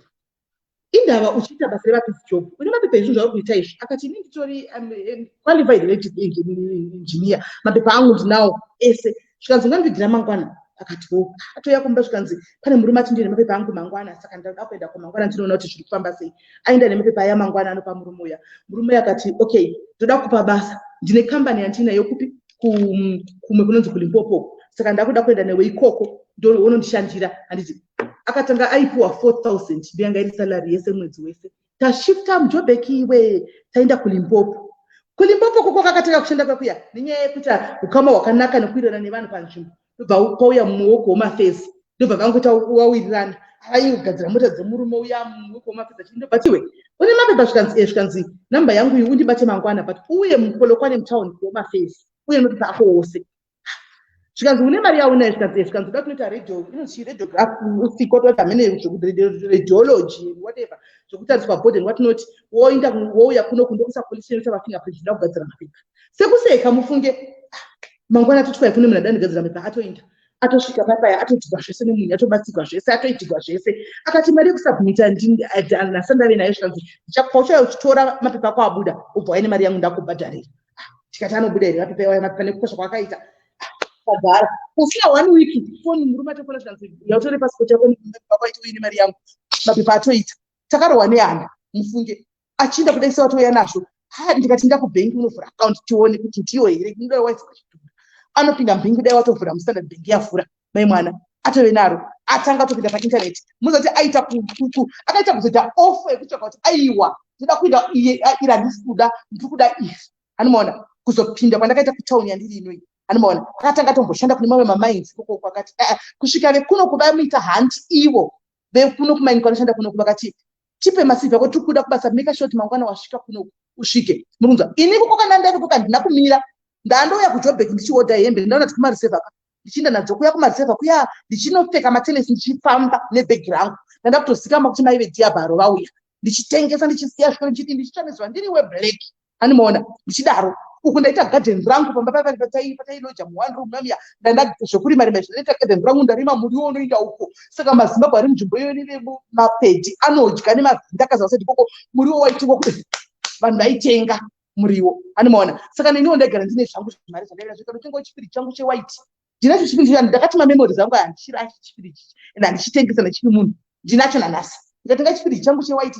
[SPEAKER 1] indava uchiita basa revapizi job une mapepa ezvinhu zvauri kuita izvi akati ini nditori um, um, qualified elective engineer mapepa angu ndinawo ese zvikanzi ungandiigira mangwana akati wo atouya kumba zvikanzi pane murume ati ndine mapepa angu mangwana saka ndada kuenda kumangwana ndinoona kuti zviri kufamba sei aenda nemapepa aya mangwana anopa murume uya murume uya akati okay ndoda kupa basa ndine kambani yandinayo kupi kumwe kunonzi kulimpopo saka ndakuda kuenda newe ikoko ndonondishandira handiti akatanga aipiwa 4000 ndiyanga iri salary yese mwedzi wese tashifta mujobek iwe taenda kulimpopo kulimpopo koko kakatanga kushanda kwakuya nenyaya yekuti ukama hwakanaka nekuirana nevanhu panzvimbo ndobva kwauya mumwe wokuhomafezi ndobva vangoita wawirirana avaiyo kugadzira mota dzemurume uya mumwe wokuhomafezi achii ndobva tiwe une mapepa zvikanzi e zvikanzi namba yangu iyi undibate mangwana but uye mupolokwane mutown kuhomafezi uye notopa ako wose zvikanzi une mari yaunayo zvikanzi e zvikanzi uda kunoita radio inochii radiograph usiko toita mhene zvekureadiology whatever zvekutariswa body and what not woinda wouya kuno kundokusa police inoita mafingerprint zvida kugadzira mapepa sekuseka mufunge mangwana atoti kwai kune munhu adanigadzira mhepa atoinda atosvika pai paya atoitigwa zvese nemunhu atobatsirwa zvese atoitigwa zvese akati mari yekusubmita ndinasa ndave nayo zvikanzi ndichakupa uchauya uchitora mapepa ako abuda ubva waine mari yangu ndakubhadharira ah, tikati anobuda here mapepa iwaya mapepa nekukosha kwaakaita kagara pasina one week foni murume atofona zvikanzi yautore pasipoti yako mapepa ako aita uine mari yangu mapepa atoita takarohwa nehana mufunge achienda kuda isa watouya nazvo ha ndikati ndakubhengi unovhura akaunti tione kuti ndiyo here ndinoda wife kuzvitora anopinda mbhingi dai watovhura mustandard bhengi yavhura mai mwana atove naro atanga atopinda paintaneti muzoti aita kukuku akaita kuzoita ofo yekutsvaka kuti aiwa ndoda kuenda iye iri handisi kuda ndiri kuda ifi hanimaona kuzopinda kwandakaita kutauni yandiri inoi hanimaona akatanga atomboshanda kune mamwe mamainzi kokoko akati eh, eh, kusvika vekuno kuda muita hanti ivo vekuno kumaini kwanoshanda kunoku vakati tipe masivi ako tiri kuda kubasa make short mangwana wasvika kunoku usvike muri kunzwa ini kuko kana ndaiko kandina kumira ndandouya kujobek ndichiodha hembe ndaona kuti kumarisevha ka ndichiinda nadzo kuya kumarisevha kuya ndichinopfeka matenesi ndichifamba nebhegi rangu ndanda kutozikama kuti maive diabharo vauya ndichitengesa ndichisiya zviko ndichiti ndichitsva nezuva ndiri weblack animoona ndichidaro uku ndaita garden rangu pamba paiva patailoja muone room mamiya ndaenda zvekurima rima izvi ndaita garden rangu ndarima muriwo unoinda uko saka mazimbabwe ari munzvimbo iyoyo neve mapedi anodya nemazinda akaziva sati koko muriwo waitengwa kuti vanhu vaitenga muriwo animoona saka neniwo ndaigara ndine zvangu zvimari zvandaiva zvika ndotengawo chipiri changu chewhite ndinacho chipiri chicha ndakati mamemory zangu aya ndichiracho chipiri chichi and handichitengesa nechipi munhu ndinacho nanhasi ndikatenga chipiri changu chewhite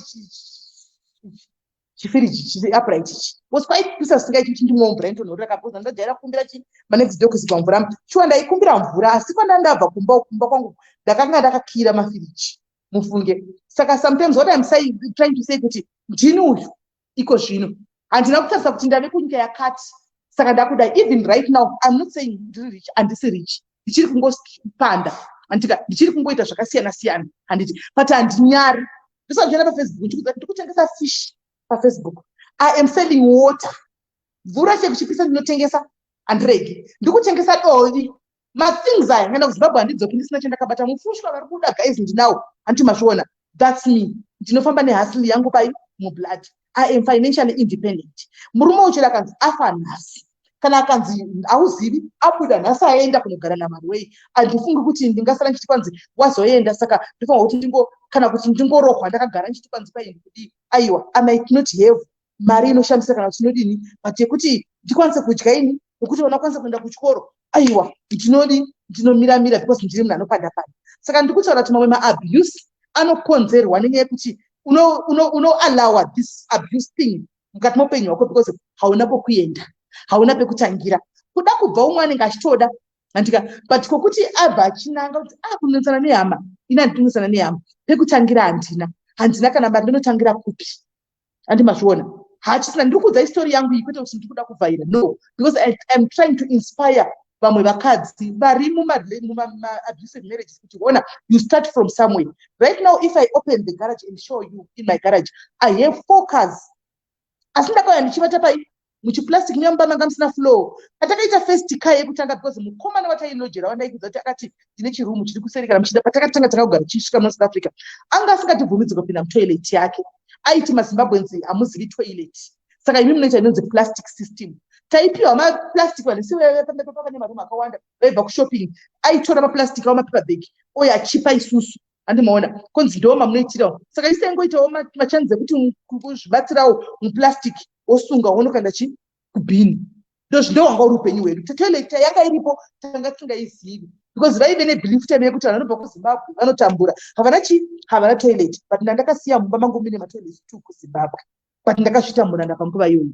[SPEAKER 1] chifiriji chiri upright ichi was quite pisa singaiti kuti ndimwe mvura inotonhorera kakuza ndajaira kukumbira chi manext day kuzipa mvura shuwa ndaikumbira mvura asi kwandandabva kumba kumba kwangu ndakanga ndakakira mafiriji mufunge saka sometimes what im saying trying to say kuti ndini uyu iko zvino handina kutarisa kuti ndave kunyika yakati saka ndakudai even right now im not saying ndiri rich handisi rich ndichiri kungopanda andika ndichiri kungoita zvakasiyana siyana handiti but handinyari ndosazviona pafacebook ndikuza kuti ndikutengesa fish pafacebook i am selling water mvura chekuchipisa ndinotengesa handiregi ndikutengesa dovi mathings aya ngaenda kuzimbabwe handidzoki ndisina chandakabata mufushwa vari kuda guys ndinawo handiti mazviona thats me ndinofamba nehasili yangu pai mublood i am financially independent murume uchiri akanzi afa nhasi kana akanzi hauzivi abuda nhasi aenda kunogara namari wei handifungi kuti ndingasara ndichiti kwanzi wazoenda saka ndofanwa kuti ndingo kana kuti ndingorohwa ndakagara ndichiti kwanzi paini kudii aiwa i might not have mari inoshandisa kana kuti ndinodini but yekuti ndikwanise kudya ini wekuti vana kwanisa kuenda kuchikoro aiwa ndinodi ndinomira mira because ndiri munhu anopanda panda saka ndiri kutaura kuti mamwe maabuse anokonzerwa nenyaya yekuti unoallowa this abuse thing mukati moupenyu hwako because hauna kwekuenda hauna pekutangira kuda kubva umwe anenge achitoda andika but kokuti abva achinanga kuti a ah, kunetsana nehama ini handinetsana nehama pekutangira handina handina kana mari ndinotangira kupi andi mazviona hachisina ndiri kuudza istori yangu iyi kwete kuti ndiri kuda kuvhaira no because I, iam trying to inspire vamwe vakadzi vari mumaabusive marriages kuti ona you start from somewhere right now if i open the garage and show you in my garage i have four cars asi ndakauya ndichivata pai muchiplastic muya mumba manga musina flow patakaita first car yekutanga because mukomana watailojera wandaikudza kuti akati ndine chirumu chiri kuseri kana muchida patakatanga tanga kugara tichisvika muno south africa anga asingatibvumidzika kupinda mutoilet yake aiti mazimbabweans hamuzivi toilet saka imi munoita inonzi plastic system taipiwa maplastic vanhu siwepamepapa pane marumu akawanda vaibva kushopping aitora maplastic avo mapepa bag oyo achipa isusu handi maona kunzi ndoo mamunoitirawo saka isai ngoitawo machanzi ekuti kuzvibatsirawo muplastic wosunga wonokanda chi kubhini ndozvindo wanga uri upenyu hwedu kuti toilet yanga iripo tanga tisingaizivi because vaive nebelief time yekuti vanhu vanobva kuzimbabwe vanotambura havana chi havana toilet but ndandakasiya mumba mangu mine matoilet two kuzimbabwe but ndakazvitambura ndapanguva iyoyo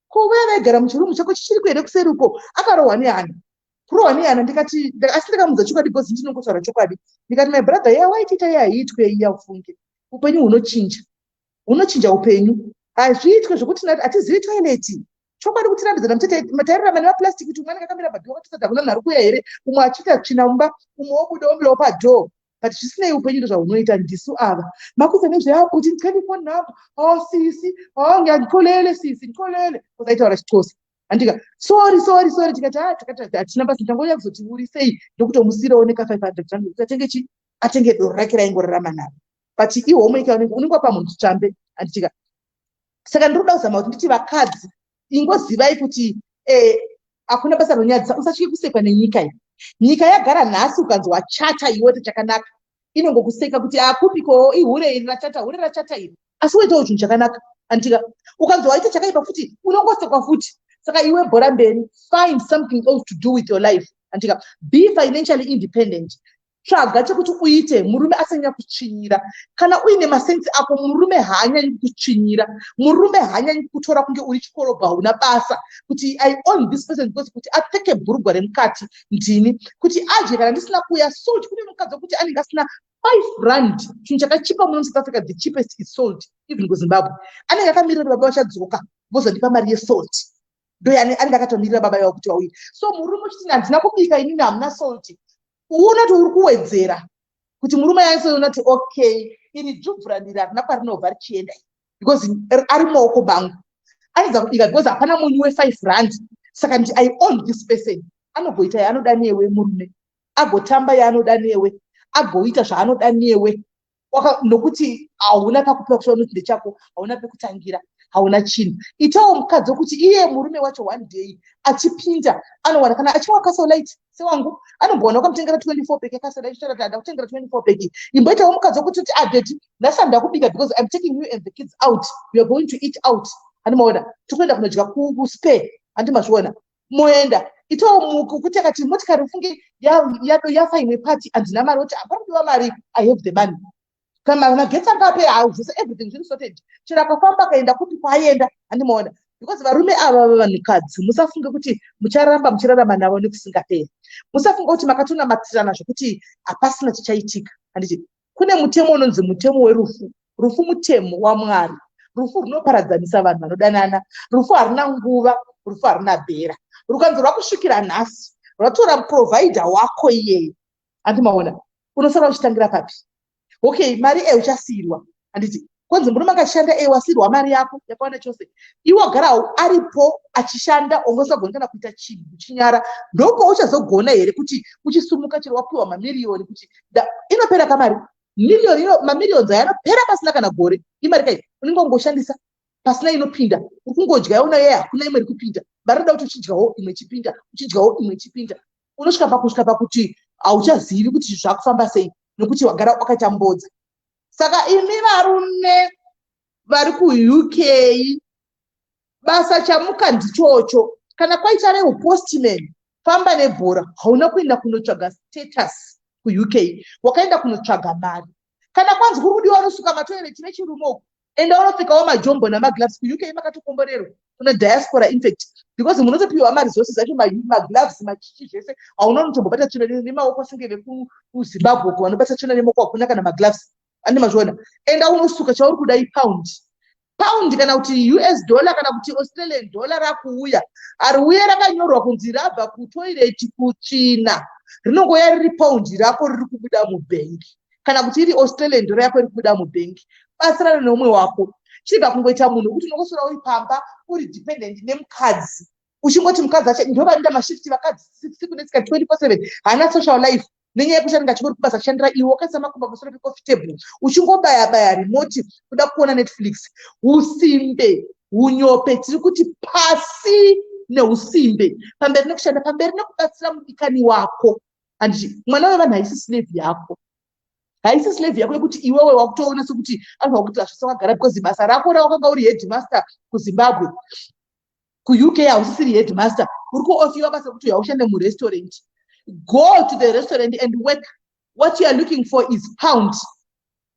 [SPEAKER 1] ko vaya vaigara muchirumu chako chichiriko here kuseri uko akarohwa nehana kurohwa nehana ndikati asi ndakamuudza chokwadi bcoz ndinongotaura chokwadi ndikati my brother ya waitiita ye haiitwe iya ufunge upenyu hunochinja hunochinja upenyu hazviitwe zvekuti nati hatizivi toileti chokwadi kutirambizana mutetairarama nemaplastic kuti umwe anenge akamira padhoo katisadza kuna nhari kuya here umwe achiita tsvina mumba umwe wobuda womirawo padhoo but zvisinei upenyu ndozvahunoita ndisu ava makuza nezveakuti ndikani phone number o oh, sisi o oh, ngandikolele sisi ndikolele kozaitaura chixosa andika sorry sorry sorry tikati a ah, takati hatina basa tangoya kuzoti uri sei ndokutomusirawo neka 500 rand kuti atenge chi atenge doro rake raingorarama naro but ihomwe ika unenge wapa munhu chitsvambe anditika saka ndiri kuda kuzama kuti nditi vakadzi ingozivai kuti eh, hakuna basa ronyadzisa usatye kusekwa nenyika iyi nyika yagara nhasi ukanzwa chata iwote chakanaka inongokuseka kuti akupiko ihure iri rachata hure rachata iri asi woitawo chinhu chakanaka antika ukanzwa waita chakaipa futi unongosekwa futi saka iwe bhora mberi find something else to do with your life antika be financially independent tsvaga chekuti uite murume asanyanya kutsvinyira kana uine masensi ako murume haanyanyi kutsvinyira murume haanyanyi kutora kunge uri chikorobha hauna basa kuti i own this person because kuti apfeke bhurugwa remukati ndini kuti adye kana ndisina kuya salt kune mukadzi wekuti anenge asina five rand chinhu chakachipa muno musouth africa the cheapest is salt even kuzimbabwe anenge akamirira kuti baba vachadzoka vozondipa mari yesalt ndoyani anenge akatomirira baba yavo kuti vauye so murume uchiti handina kubika inini hamuna salti unoti uri kuwedzera kuti murume yaisoona kuti okay iri dzvubvu randiri harina kwarinobva richienda because ari maoko bangu anodza kubika because hapana munyu wefive rand saka ndi i own this person anoggoita yaanoda newe murume agotamba yaanoda newe agoita zvaanoda newe nokuti hauna pakupiwa kusvika unoti ndechako hauna pekutangira hauna chinhu itawo mukadzi wekuti iye murume wacho one day achipinda anowana kana achinwa kasolite sewangu anombowana wakamutengera 24 peki kasolite chitaura kuti andakutengera 24 peki imboitawo mukadzi wekuti kuti adeti nhasi andakubika because im taking you and the kids out youare going to eat out handimaona tikuenda kunodya kuspare handimazviona moenda itawo muko kuti akati motikari ufunge yafa imwe pati handina mari oti hapana kudiwa mari i have the money kana magetsi anga apera hawo zvese everything zviri sorted chero akafamba akaenda kupi kwaaienda handimoona because varume ava vavanhukadzi musafunge kuti mucharamba muchirarama navo nekusingaperi musafunge kuti makatona matirana zvekuti hapasina chichaitika handiti kune mutemo unonzi mutemo werufu rufu mutemo wamwari rufu runoparadzanisa vanhu vanodanana rufu haruna nguva rufu haruna bhera rukanzi rwakusvikira nhasi rwatora providha wako iyeyo andi maona unosara uchitangira papi okay mari e uchasiirwa handiti konzi murume akashanda e wasirwa mari yako yakawanda chose iwo garawo aripo achishanda ongosagona kana kuita chinhu kuchinyara ndoko uchazogona here kuti uchisumuka chero wapiwa mamiriyoni kuti inopera kamari miriyoni ino mamiriyoni ayo anopera pasina kana gore imari kai unenge ungoshandisa pasina inopinda uri kungodya yaona yeye hakuna imwe iri kupinda mari roda kuti uchidyawo imwe chipinda uchidyawo imwe chipinda unosvika pakusvika pakuti hauchazivi kuti zvakufamba sei nokuti wagara wakatambodza saka imi varume vari kuuk basa chamuka ndichocho kana kwaita rehupostman famba nebhora hauna kuenda kunotsvaga status kuuk wakaenda kunotsvaga mari kana kwanzi kuri kudiwa unosuka matoireti vechirume uku enda unopfekawo majombo namagloves kuuk makatokomborerwa kuna diaspora infact because munotopiwa maresources acho magloves machichi zvese hauna unotombobata tsvina nemaoko senge vekuzimbabwe ko vanobata tsvina nemaoko hakuna kana magloves ane mazviona enda unosuka chauri kuda ipound pound kana kuti us dollar kana kuti australian dollar rakuuya ariuya rakanyorwa kunzi rabva kutoireti kutsvina rinongoya riri pound rako riri kubuda mubhengi kana kuti iri australian ndoro yako iri kubuda mubhengi batsirana neumwe wako chirega kungoita munhu wekuti unongosora uri pamba uri dependent nemukadzi uchingoti mukadzi acho ndo vanoita mashifti vakadzi siku netsika 24 haana social life nenyaya yekuti anenge achingori kubasa kushandira iwe wakaisa makumba pamusoro pecoffee table uchingobaya baya remote kuda kuona netflix usimbe unyope tiri kuti pasi neusimbe pamberi nekushanda pamberi nekubatsira mudikani wako and mwana wevanhu haisi slave yako haisi slave yako yekuti iwewe wakutoona sekuti anhu wakuti hazvisa wagara because basa rako rawakanga uri headmaster kuzimbabwe kuuk hausisiri headmaster uri kuofiwa basa rekuti haushande murestaurant go to the restaurant and work what you are looking for is pound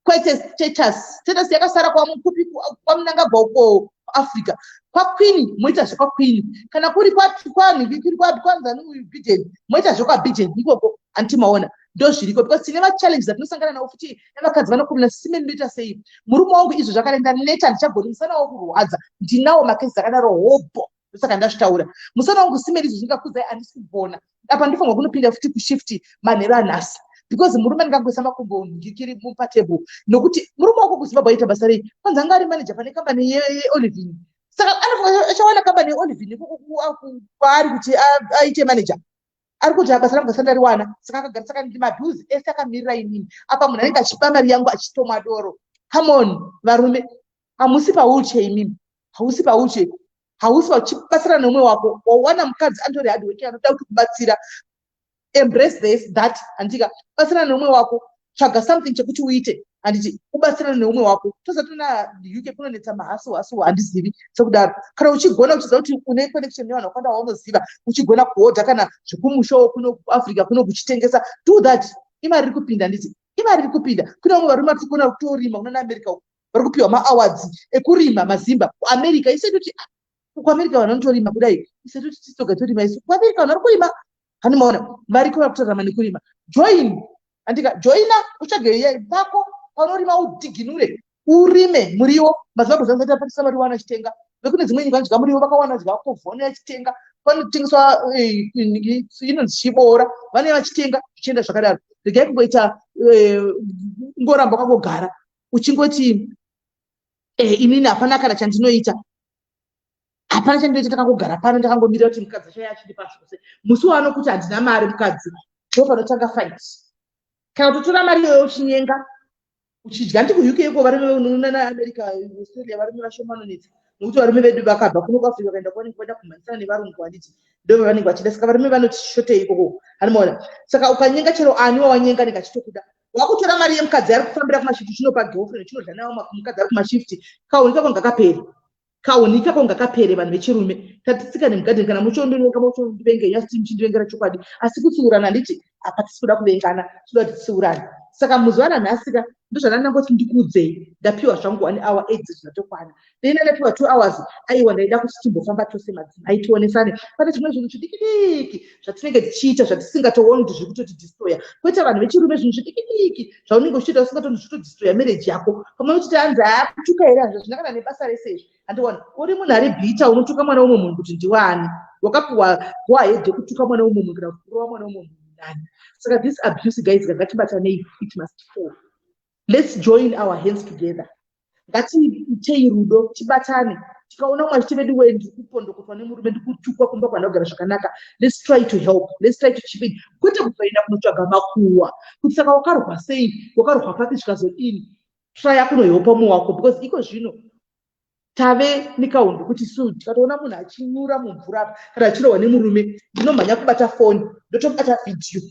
[SPEAKER 1] kwete status status yakasara kwamukupi kwamunangagwa uko kuafrica kwaqueen moita zvekwaqueen kana kuri kwanhikirikwanzani uyu biden moita zvekwabiden ikoko anti maona ndozviriko because tine machallenges atinosangana nawo futi nevakadzi vanokomena sime ndinoita sei murume wangu izvo zvakarenda neta handichagoni musana wo kurwadza ndinawo makesi akadaro hobho ndosaka ndazvitaura musana wangu simeri izvo zvingakuzai andisi kugona apa ndifanirwa kunopinda futi kushift manhero anhasi because murume ndingangoisa makumbo ndikiri mupatable nokuti murume wako kuzimbabwe aita basa rei kwanzi anga ari manager pane kambani yeolivin saka anofanira achawana kambani yeolivin kwaari kuti aite manager ari kuti basa rangu gasanda riwana saka akagara saka ndi maduzi ese akamirira inini apa munhu anenge achipa mari yangu achitomwa doro come on varume hamusi pawheelchair imimi hausi pawheelchair hausi vachibatsira neumwe wako wawana mukadzi andori hard working anoda kuti kubatsira embrace this that handika batsira neumwe wako tsvaga something chekuti uite handiti ubatsira neumwe wako tozatona uk kunonetsa mahasu hasu handizivi sekudaro kana uchigona uchiziva kuti une connection nevanhu vakawanda waunoziva uchigona kuhodha kana zvekumushowo kuno kuafrica kuno kuchitengesa do that imari iri kupinda handiti imari iri kupinda kune vamwe varume vatikuona kutorima kunana america uku vari kupiwa maawards ekurima mazimba kuamerica ise toti ah, kuamerica vanhu vanotorima kudai ise toti tisoga torima isu kuamerica vanhu vari kurima hani maona variko vari kutorama nekurima join andika joina utsvage vako panorima udhiginure urime muriwo mazuva kuzanzi ati apatisa mari wana achitenga vekune dzimwe nyika anodya muriwo vakawana dya kovhone achitenga panotengeswa eh, inonzi chiboora vanee vachitenga zvichienda zvakadaro regai kungoita eh, ngoramba kwakogara uchingoti eh, inini hapana kana chandinoita hapana chandinoita takangogara pano ndakangomirira kuti mukadzi acho achiri pasi kuse musi waanokuti handina mari mukadzi ndo panotanga fight kana kutotora mari iyoyo uchinyenga uchidya ndi kuuk iko varume unoona naamerica australia varume vashomanonetsa nokuti varume vedu vakabva kuno kuafrica vakaenda kwavanenge vaida kumhanyisana nevarungu handiti ndo vavanenge vachida saka varume vanoti shotei ikoko hanimaona saka ukanyenga chero ani wawanyenga nenge achitokuda wakutora mari yemukadzi ari kufambira kumashift chinopa girlfriend chinodya nawo mukadzi ari kumashift kauni kako ngakapere kauni kako ngakapere vanhu vechirume tatitsikane mugadheni kana muchondivenga muchondivenga nyasi ti muchindivengera chokwadi asi kutsiurana handiti apa tisi kuda kuvengana tinoda kuti titsiurane saka muzuva ranhasika ndozvanandangoti ndikuudzei ndapiwa zvangu one hour eight zvinatokwana ndinenge tiwa two hours aiwa ndaida kuti timbofamba tose madzimai tionesane pane zvimwe zvinhu zvidikidiki zvatinenge tichiita zvatisingatooni kuti zviri kutotidistroya koita vanhu vechirume zvinhu zvidikidiki zvaunenge uchitoita usingatooni zvitodistroya mereji yako pamwe uchiti hanzi aakutuka here hazvo zvina kana nebasa rese izvi handiwani uri munhu ari bhita unotuka mwana womwe munhu kuti ndiwani wakapiwa goahed yekutuka mwana womwe munhu kana kuti kurova mwana womwe munhu nani saka this abuse guys gangatibatanei it must fall let's join our hands together ngatiitei rudo tibatane tikaona umwe achiti vedu wee ndiri kupondokotwa nemurume ndikutukwa kumba kwanogara zvakanaka let's try to help let's try to chipin kwete kuzoenda kunotsvaga makuwa kuti saka wakarwa sei wakarwa papi zvikazodini traya kunoheopa umwe wako because iko zvino tave nekaundu kuti su tikatoona munhu achinyura mumvura apa kana achirohwa nemurume ndinomhanya kubata foni ndotobata vhidhiyo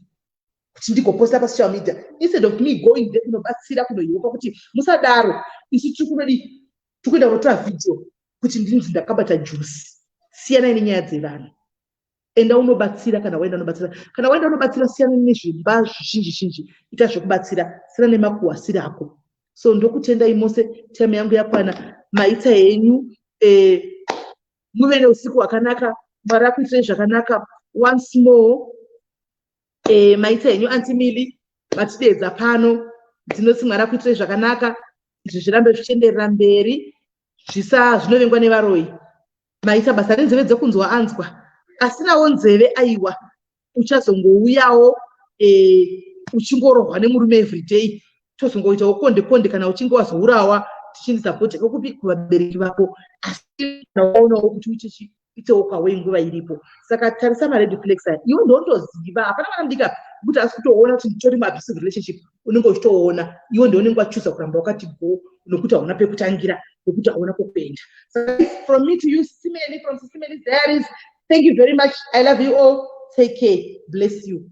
[SPEAKER 1] kuti ndigoposta pasocial media instead of me going there kunobatsira kunohiwopa kuti musadaro isu tiri kunodii tiri kuenda kunotora video kuti ndinzi ndakabata jusi siyanai nenyaya dzevanhu enda unobatsira kana waenda unobatsira kana waenda unobatsira siyana nezvimba zvizhinji zhinji ita zvekubatsira siyana nemakuwasira ako so ndokutendai mose time yangu yakwana maitsa henyu eh, muve neusiku hwakanaka mwari akuitirei zvakanaka once more e, maita henyu anti mili matideedza pano ndinoti mwari akuitirei zvakanaka izvi zvirambe zvichienderera mberi zvisa zvinovengwa nevaroyi maita basa renzeve dzekunzwa anzwa asinawo nzeve aiwa uchazongouyawo e, uchingorohwa nemurume everyday tozongoitawo konde konde kana uchinge wazourawa tichindisapota kokupi kuvabereki vako asi kana waonawo kuti uchichi itewo kwawe nguva iripo saka tarisa mared flags aya iwe ndondoziva hapana vana mudika kuti asi kutoona kuti nditori muabusive relationship unenge uchitoona iwe ndounenge wachuza kuramba wakati go nokuti hauna pekutangira nokuti hauna kwekuenda from me to you simeli from simeli diaries thank you very much i love you all take care bless you